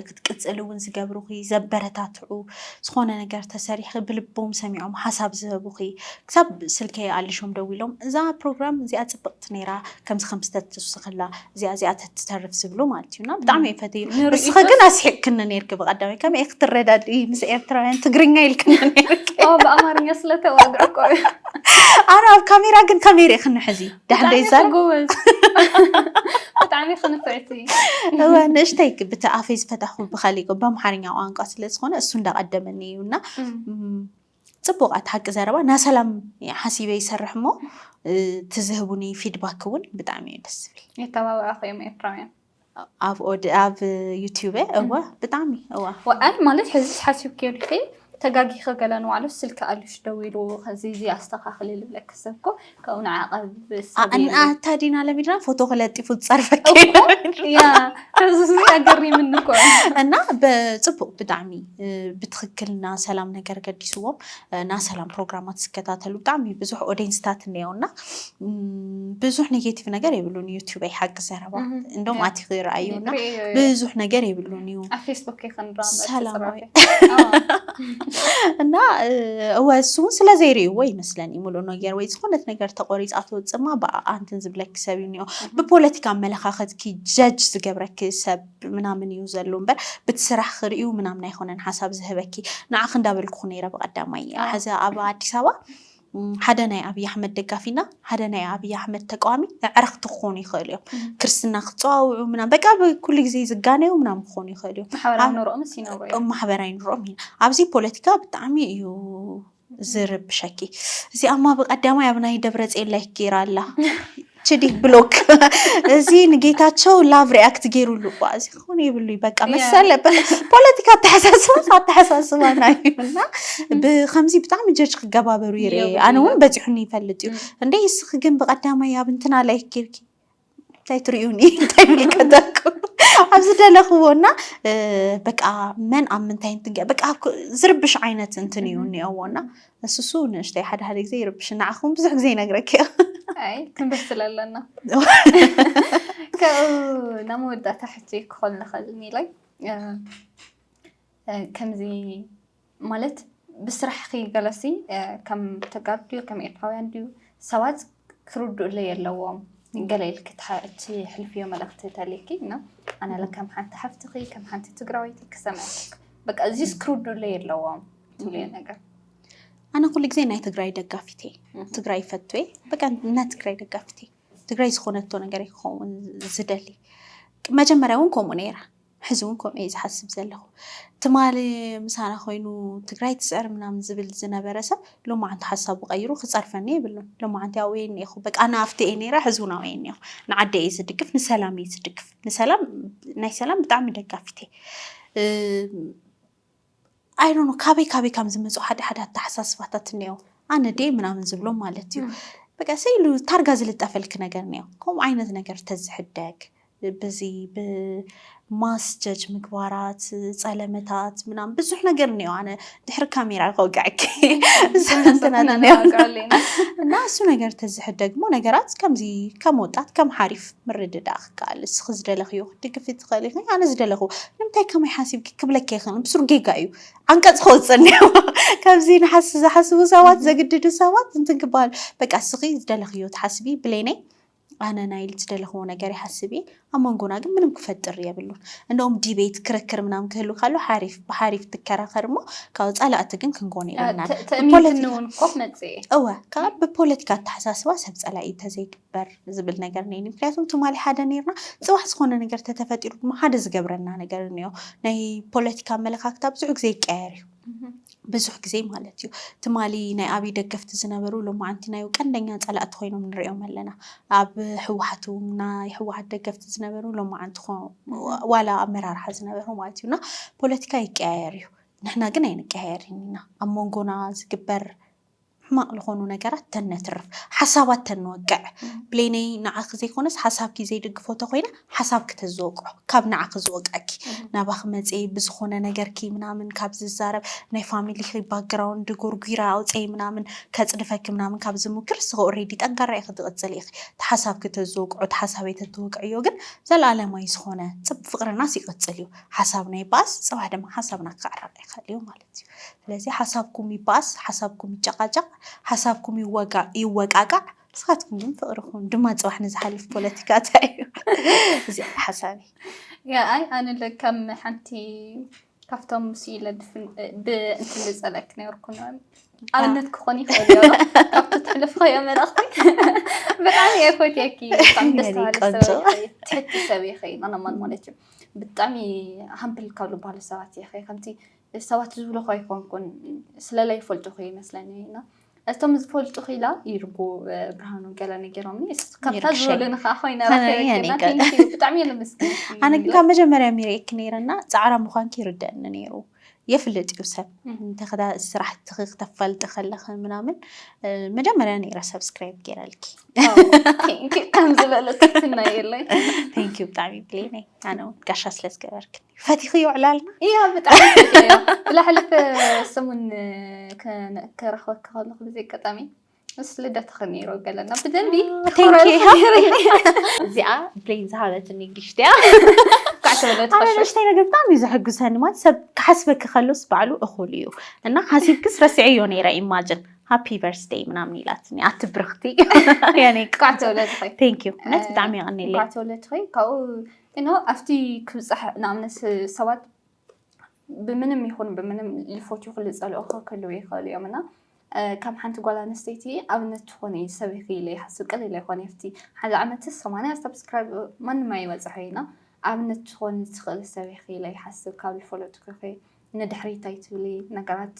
ክትቅፅል እውን ዝገብሩኺ ዘበረታትዑ ዝኾነ ነገር ተሰሪሕ ብልቦም ሰሚዖም ሓሳብ ዝህቡኺ ክሳብ ስልከይ ኣሊሾም ደዊሎም እዛ ፕሮግራም እዚኣ ፅብቅ ትምህርቲ ነይራ ከምዚ ከምዚ ተትውስክላ እዚኣ እዚኣ ተትተርፍ ዝብሉ ማለት እዩ እና ብጣዕሚ እየ ፈትዩ ንስኺ ግን ኣስሒቅክኒ ነይርኪ ብቀዳማይ ከመይ ክትረዳድኢ ምስ ኤርትራውያን ትግርኛ ኢልክኒ ነይርኪ ብኣማርኛ ስለተዋግዑ እኮ እዩ ኣነ ኣብ ካሜራ ግን ከመይ ርኢክኒ ሕዚ ድሕር ደይዛር ጎበዝ ብጣዕሚ ክንፍዕቲ እወ ንእሽተይ ብቲ ኣፈይ ዝፈታኹ ብካሊእ በኣምሓርኛ ቋንቋ ስለዝኾነ እሱ እንዳቀደመኒ እዩ እና ፅቡቅ ኣቲ ሓቂ ዘረባ ናሰላም ሓሲበ ይሰርሕ እሞ እቲ ዝህቡኒ ፊድባክ እውን ብጣዕሚ እዩ ደስ ዝብል የተባብዑኹ እዮም ኤርትራውያን ኣብ ኦድ ኣብ ዩቲዩብ እወ ብጣዕሚ እዋ ወኣን ማለት ሕዚ ሓሲብ ከይዱ ተጋጊኸ ገለ ንባዕሉ ስልኪ ኣልሽ ደዊሉ ከዚ እዚ ኣስተኻኽሊ ልብለክ ሰብ እኮ ካብኡ ንዓ ቀብ ሰብ ኣንኣ እታ ዲና ለሚድና ፎቶ ክለጢፉ ዝጸርፈኪ ኣገሪምኒ እኮ እና ብጽቡቅ ብጣዕሚ ብትክክል ና ሰላም ነገር ገዲስዎም ና ሰላም ፕሮግራማት ዝከታተሉ ብጣዕሚ ብዙሕ ኦዲየንስታት እነየው እና ብዙሕ ኔጌቲቭ ነገር የብሉን ዩቲበይ ሓቂ ዘረባ እንደም ኣቲ ክረኣዩ እና ብዙሕ ነገር የብሉን እዩ ሰላማዊ እና እወ እሱ እውን ስለዘይርእይዎ ይመስለኒ ሙሉ ነገር ወይ ዝኾነት ነገር ተቆሪፃ ትወፅማ ብኣኣ እንትን ዝብለኪ ሰብ እዩ እኒኦ ብፖለቲካ ኣመለኻኸትኪ ጀጅ ዝገብረኪ ሰብ ምናምን እዩ ዘሎ እምበር ብቲ ስራሕ ክርእዩ ምናምን ኣይኮነን ሓሳብ ዝህበኪ ንዓኺ እንዳበልኩኹ ነይረ ብቀዳማይ ሕዚ ኣብ ኣዲስ ኣበባ ሓደ ናይ ኣብይ ኣሕመድ ደጋፊ እና ሓደ ናይ ኣብይ ኣሕመድ ተቃዋሚ ኣዕርኽቲ ክኾኑ ይኽእሉ እዮም። ክርስትና ክፀዋውዑ ምናምን በቃ ኣብ ኩሉ ግዜ ዝጋነዩ ምናምን ክኾኑ ይኽእሉ እዮም። ማሕበራዊ ኣብ- ኑሮኦምስ ይነብሩ እዮም ማሕበራዊ ኑሮኦም ኢና ኣብዚ ፖለቲካ ብጣዕሚ እዩ ዝርብሸኪ እዚኣማ ብቀዳማይ ኣብ ናይ ደብረፅዮን ላይክ ገይራ ኣላ ችዲ ብሎክ እዚ ንጌታቸው ላቭ ሪያክት ገይሩሉ እኳ እዚ ክኾነ የብሉይ በቃ መሰለ ፖለቲካ ኣተሓሳስባ ኣተሓሳስባ ናይ እና ብከምዚ ብጣዕሚ ጀጅ ክገባበሩ ይርኢ ኣነ እውን በፂሑኒ ይፈልጥ እዩ እንደ እስኺ ግን ብቀዳማይ ኣብ እንትና ላይ ጌርኪ እንታይ ትሪኡኒ እንታይ ምልከተኩ ኣብ ዝደለኽዎ እና በቃ መን ኣብ ምንታይ እንትገ በቃ ዝርብሽ ዓይነት እንትን እዩ እኒኦዎ እና ንሱሱ ንእሽተይ ሓደ ሓደ ግዜ ይርብሽ ንዓኹም ብዙሕ ግዜ ይነግረኪ ኣይ ክንብስ ስለለና ካብኡ ናብ መወዳእታ ሕጂ ክኾን ንኽእል ኒለይ ከምዚ ማለት ብስራሕኺ ገለሲ ከም ተጋሩ ድዩ ከም ኤርትራውያን ድዩ ሰባት ክርድኡለይ ኣለዎም ገለ ኢልኪ ትሕልፍዮ መልእኽቲ እንተልይኪ እና ኣነ ለ ከም ሓንቲ ሓፍትኺ ከም ሓንቲ ትግራወይቲ ክሰምዐኪ በቃ እዚስ ክርድኡለይ ኣለዎም ትብልዮ ነገር ኣነ ኩሉ ግዜ ናይ ትግራይ ደጋፊት እየ ትግራይ ይፈቱ እየ በቃ ናይ ትግራይ ደጋፊት እየ ትግራይ ዝኾነቶ ነገር ክኸውን ዝደሊ መጀመርያ እውን ከምኡ ነይራ ሕዚ ውን ከምኡ እየ ዝሓስብ ዘለኹ። ትማሊ ምሳና ኮይኑ ትግራይ ትስዕር ምናምን ዝብል ዝነበረ ሰብ ሎማዓንቲ ሓሳቡ ቀይሩ ክፀርፈኒ የብሉን። ሎማዓንቲ ኣብኡ እየ እኒኤኹ። በቃ ኣነ ኣብቲ እየ ነይረ ሕዚ ውን ኣብኡ እየ እኒኤኹ። ንዓደይ እየ ዝድግፍ ንሰላም እየ ዝድግፍ ንሰላም ናይ ሰላም ብጣዕሚ ደጋፊት እየ። ኣይዶኖ ካበይ ካበይ ከም ዝመፁ ሓደ ሓደ ኣተሓሳስባታት እኒኦ ኣነ ዴ ምናምን ዝብሎም ማለት እዩ በቃ ስኢሉ ታርጋ ዝልጠፈልክ ነገር እኒኦ ከምኡ ዓይነት ነገር ተዝሕደግ ብዚ ብማስ ጀጅ ምግባራት ፀለመታት ምናምን ብዙሕ ነገር እኒኦ ኣነ ድሕሪ ካሜራ ከውግዐክ እና እሱ ነገር ተዝሕደግ እሞ ነገራት ከምዚ ከም ወጣት ከም ሓሪፍ ምርድዳእ ይከኣል ንስኺ ዝደለኽዮ ክትድግፊ ትኽእሊ ኢኺ ኣነ ዝደለኹ ንምንታይ ከማይ ሓሲብኪ ክብለኪ ኣይክእልን ብሱር ጌጋ እዩ ዓንቀፅ ከወፅእ እኒኦ ካብዚ ንሓስ ዝሓስቡ ሰባት ዘግድዱ ሰባት እንትን ክበሃል በቃ ንስኺ ዝደለኽዮ ትሓስቢ ብሌነይ ኣነ ናይ ኢል ዝደለኽዎ ነገር ይሓስብ እየ ኣብ መንጎና ግን ምንም ክፈጥር የብሉን እንደውም ዲቤት ክርክር ምናምን ክህሉ ካሎ ሓሪፍ ብሓሪፍ ትከራኸር እሞ ካብ ፃላእቲ ግን ክንኮን የብልናን ትእሚት ንውን ኮፍ መፅኤ እወ ካብ ብፖለቲካ ኣተሓሳስባ ሰብ ፀላኢ እንተዘይ በር ዝብል ነገር ነይኒ ምክንያቱም ትማሊ ሓደ ነርና ጽባሕ ዝኾነ ነገር ተተፈጢሩ ድማ ሓደ ዝገብረና ነገር እንዮ ናይ ፖለቲካ ኣመለካክታ ብዙሕ ግዜ ይቀየር እዩ ብዙሕ ግዜ ማለት እዩ ትማሊ ናይ ኣብይ ደገፍቲ ዝነበሩ ሎማዓንቲ ናይ ቀንደኛ ፀላእቲ ኮይኖም ንሪኦም ኣለና ኣብ ህወሓት እውን ናይ ህወሓት ደገፍቲ ዝነበሩ ሎማዓንቲ ዋላ ኣመራርሓ ዝነበሩ ማለት እዩና ፖለቲካ ይቀያየር እዩ ንሕና ግን ኣይንቀያየርን ኢና ኣብ መንጎና ዝግበር ሕማቅ ልኾኑ ነገራት ተነትርፍ ሓሳባት ተንወቅዕ ብሌነይ ንዓኺ ዘይኮነስ ሓሳብኪ ዘይድግፎ ተኾይነ ሓሳብኪ ተዝወቅዖ ካብ ንዓኺ ዝወቅዐኪ ናባኺ መጼ ብዝኾነ ነገርኪ ምናምን ካብ ዝዛረብ ናይ ፋሚሊኺ ባክግራውንድ ጎርጒረ ኣውጸይ ምናምን ከጽድፈኪ ምናምን ካብ ዝሙክር እስኺ ኦሬዲ ጠንካራ ኢኺ ትቅጽሊ ኢኺ እቲ ሓሳብኪ ተዝወቅዖ እቲ ሓሳበይ ተትወቅዕዮ ግን ዘልኣለማይ ዝኾነ ጽብ ፍቅርናስ ይቅጽል እዩ ሓሳብና ይበኣስ ጽባሕ ድማ ሓሳብና ክዕረቅ ይኽእል እዩ ማለት ማለት እዩ። ስለዚ ሓሳብኩም ይባኣስ፣ ሓሳብኩም ይጨቓጨቕ፣ ሓሳብኩም ይወጋእ ይወቃቃዕ፣ ንስኻትኩም ግን ፍቕሪ ኩኑ። ድማ ፅባሕ ንዝሓልፍ ፖለቲካ እንታይ እዩ? እዚኣ ሓሳቢ ያ ኣይ ኣነ ለካም ሓንቲ ካብቶም ምስ ኢለ ብእንትን ዝፀለክ ነርኩ ኣብነት ክኾን ይኽእል ዮ ካብቲ ትሕልፍኸዮ መልእኽቲ ብጣዕሚ እየ ፈትየኪ ብጣዕሚ ደስ ትሕቲ ሰብ ይኸይ ኣነ ማን ማለት እዩ ብጣዕሚ ሃምብል ካብ ዝበሃሉ ሰባት እየ ከምቲ ሰባት ዝብልኹ ኣይኮንኩን ስለላይ ይፈልጡኹ ይመስለኒ እና እቶም ዝፈልጡኹ ኢላ ይርጉ ብርሃኑ ገለ ነጊሮምኒ ካብታ ዝበሉኒ ከዓ ኮይነ ብጣዕሚ እየ ልምስግን ኣነ ግን ካብ መጀመርያ ሚርእኪ ነይረና ፃዕራ ምኳንኪ ይርደአኒ ነይሩ የፍልጥ እዩ ሰብ እንተክዳ ስራሕትኺ ክተፋልጢ ከለኺ ምናምን መጀመርያ ነይረ ሰብስክራይብ ገይረልኪ ከም ዝበለትትና የለይ ቴንክ ዩ ብጣዕሚ ብሌነይ ኣነ እውን ጋሻ ስለ ዝገበርክኒ ፈቲኽዮ ዕላልና እያ ብጣዕሚ ፈትየዮ ብላሕልፈ ሰሙን ከረኽበካ ከለኹ ብዘይ ኣጋጣሚ ምስ ልደትኺ ነይሩ ገለና ብደንቢ እዚኣ ብሌን ዝሃበትኒ ጊፍት እያ ንእሽተይ ነገር ብጣዕሚ እዩ ዘሕጉሰኒ ማለት ሰብ ክሓስበኪ ከሎስ ባዕሉ እኹል እዩ እና ሓሲብክስ ረሲዐዮ ነይረ ኢማጅን ሃፒ በርስደይ ምናምን ኢላትኒ ኣቲ ብርኽቲ ቴንኪዩ እውነት ብጣዕሚ የቐኒለይ ካብኡ ኣብቲ ክብፃሕ ንኣብነት ሰባት ብምንም ይኹን ብምንም ልፎት ይኹን ልጸልኦ ክህልው ይኽእሉ እዮም እና ከም ሓንቲ ጓል ኣንስተይቲ ኣብነት ትኾኒ ሰብ ኢኺ ኢለ ይሓስብ ቅል ኢለ ይኾን የፍቲ ሓደ ዓመት ሰማንያ ሰብስክራይብ ማንም ኣይበጽሖ ኢና ኣብነት ትኾኒ ትኽእል ሰብ ኢኺ ኢለ ይሓስብ ካብ ልፈለጥኩ ኢኺ ንድሕሪት ኣይትብሊ ነገራት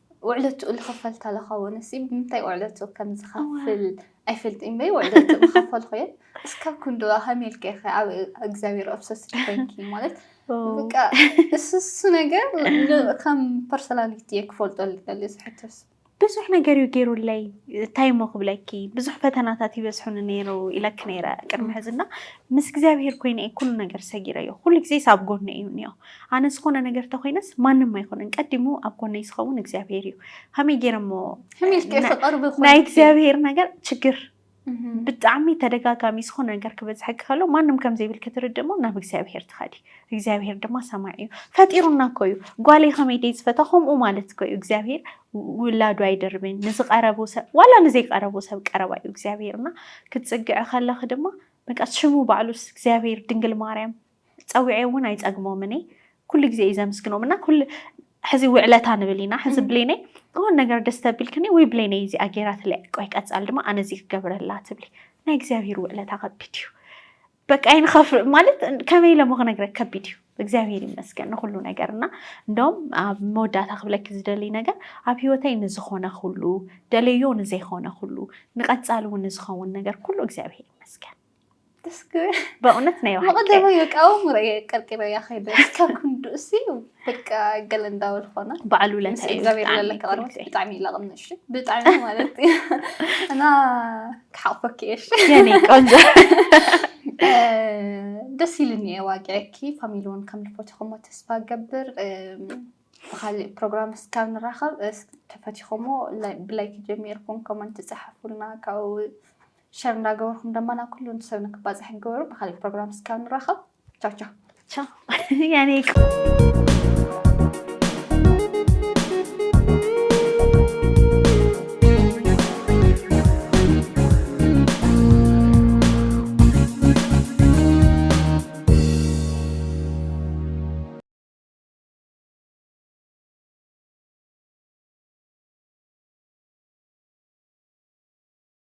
ውዕለትኡ ልኽፈል ተለኻ ወንሲ ብምንታይ ውዕለትኡ ከም ዝኸፍል ኣይፈልጥን በይ ውዕለትኡ ምኸፈልኩ እየ እስካብ ክንድዋ ከመይ ኢልከ ኢኸ ኣብ እግዚኣብሔር ኦብሰስድ ኮይንኪ ማለት በቃ እሱ እሱ ነገር ከም ፐርሶናሊቲ እየ ክፈልጦ ልደሊ እዚ ሕቶስ ብዙሕ ነገር እዩ ገይሩለይ እንታይ እሞ ክብለኪ ብዙሕ ፈተናታት ይበዝሑኒ ነይሩ ኢለኪ ነይረ ቅድሚ ሕዝና ምስ እግዚኣብሄር ኮይነ እየ ኩሉ ነገር ሰጊረዮ ኩሉ ግዜ ሳብ ጎኒ እዩ እኒኦ ኣነ ዝኾነ ነገር ተኾይነስ ማንም ኣይኮነን ቀዲሙ ኣብ ጎነይ ዝኸውን እግዚኣብሄር እዩ ከመይ ገይረ እሞ ሕሚልኪ ፍቅር ብኮንኪ ናይ እግዚኣብሄር ነገር ችግር ብጣዕሚ ተደጋጋሚ ዝኾነ ነገር ክበዝሐኪ ከሎ ማንም ከም ዘይብል ክትርድእ እሞ ናብ እግዚኣብሄር ትኸዲ እግዚኣብሄር ድማ ሰማዒ እዩ ፈጢሩና እኮ እዩ ጓለይ ከመይ ደይ ዝፈታ ከምኡ ማለት እኮ እዩ እግዚኣብሄር ውላዱ ኣይደርብን ንዝቀረቡ ሰብ ዋላ ንዘይቀረቡ ሰብ ቀረባ እዩ እግዚኣብሄርና ክትፅግዒ ከለኺ ድማ በቃ ሽሙ ባዕሉስ እግዚኣብሄር ድንግል ማርያም ፀዊዐ እውን ኣይፀግሞምን እየ ኩሉ ግዜ እዩ ዘምስግኖም እና ኩሉ ሕዚ ውዕለታ ንብል ኢና ሕዚ ብሌነይ ዝኾነ ነገር ደስ ተቢልክኒ ወይ ብሌነይ እዚኣ ገይራትለይ ቆይ ቀፃሊ ድማ ኣነ እዚ ክገብረላ ትብሊ ናይ እግዚኣብሔር ውዕለታ ከቢድ እዩ በቃ ይንኸፍ ማለት ከመይ ኢለ ክነግረ ከቢድ እዩ እግዚኣብሔር ይመስገን ንኩሉ ነገር እና እንደውም ኣብ መወዳእታ ክብለኪ ዝደሊ ነገር ኣብ ሂወተይ ንዝኾነ ኩሉ ደለዮ ንዘይኮነ ኩሉ ንቀፃሊ እውን ንዝኸውን ነገር ኩሉ እግዚኣብሔር ይመስገን ደስ ክብል በእውነት ናይ ባሓቂ መቐደመ የቃወም ርእየ ቀርቂረ እያ ከይደ ካብ ክንዱ እሲ በቃ ገለ እንዳበል ኾነ በዓል ምስ ውለታ እዩ እግዚኣብሔር ብጣዕሚ ዘለካ ቅርበት ክብርቲ። ብጣዕሚ ይላቕም እሺ ብጣዕሚ ማለት እዩ እና ክሓቕፈኪ እየ እሺ የኔ ቆንጆ እ፣ ደስ ኢልኒ እየ ዋጊዐኪ ፋሚሊ እውን ከም ልፈትኹሞ ተስፋ ገብር እም፣ ብካሊእ ፕሮግራም እስካብ ንራኸብ እስ- ተፈቲኹሞ ላይ- ብላይክ ጀሚርኩም ኮመንት ጸሓፉልና ካብኡ ሸር እንዳገበርኩም ደማ ናብ ኩሉ ሰብ ንክባፅሕ ግበሩ ብካሊእ ፕሮግራም ስካብ ንራኸብ ቻው ቻው ቻው ያኔ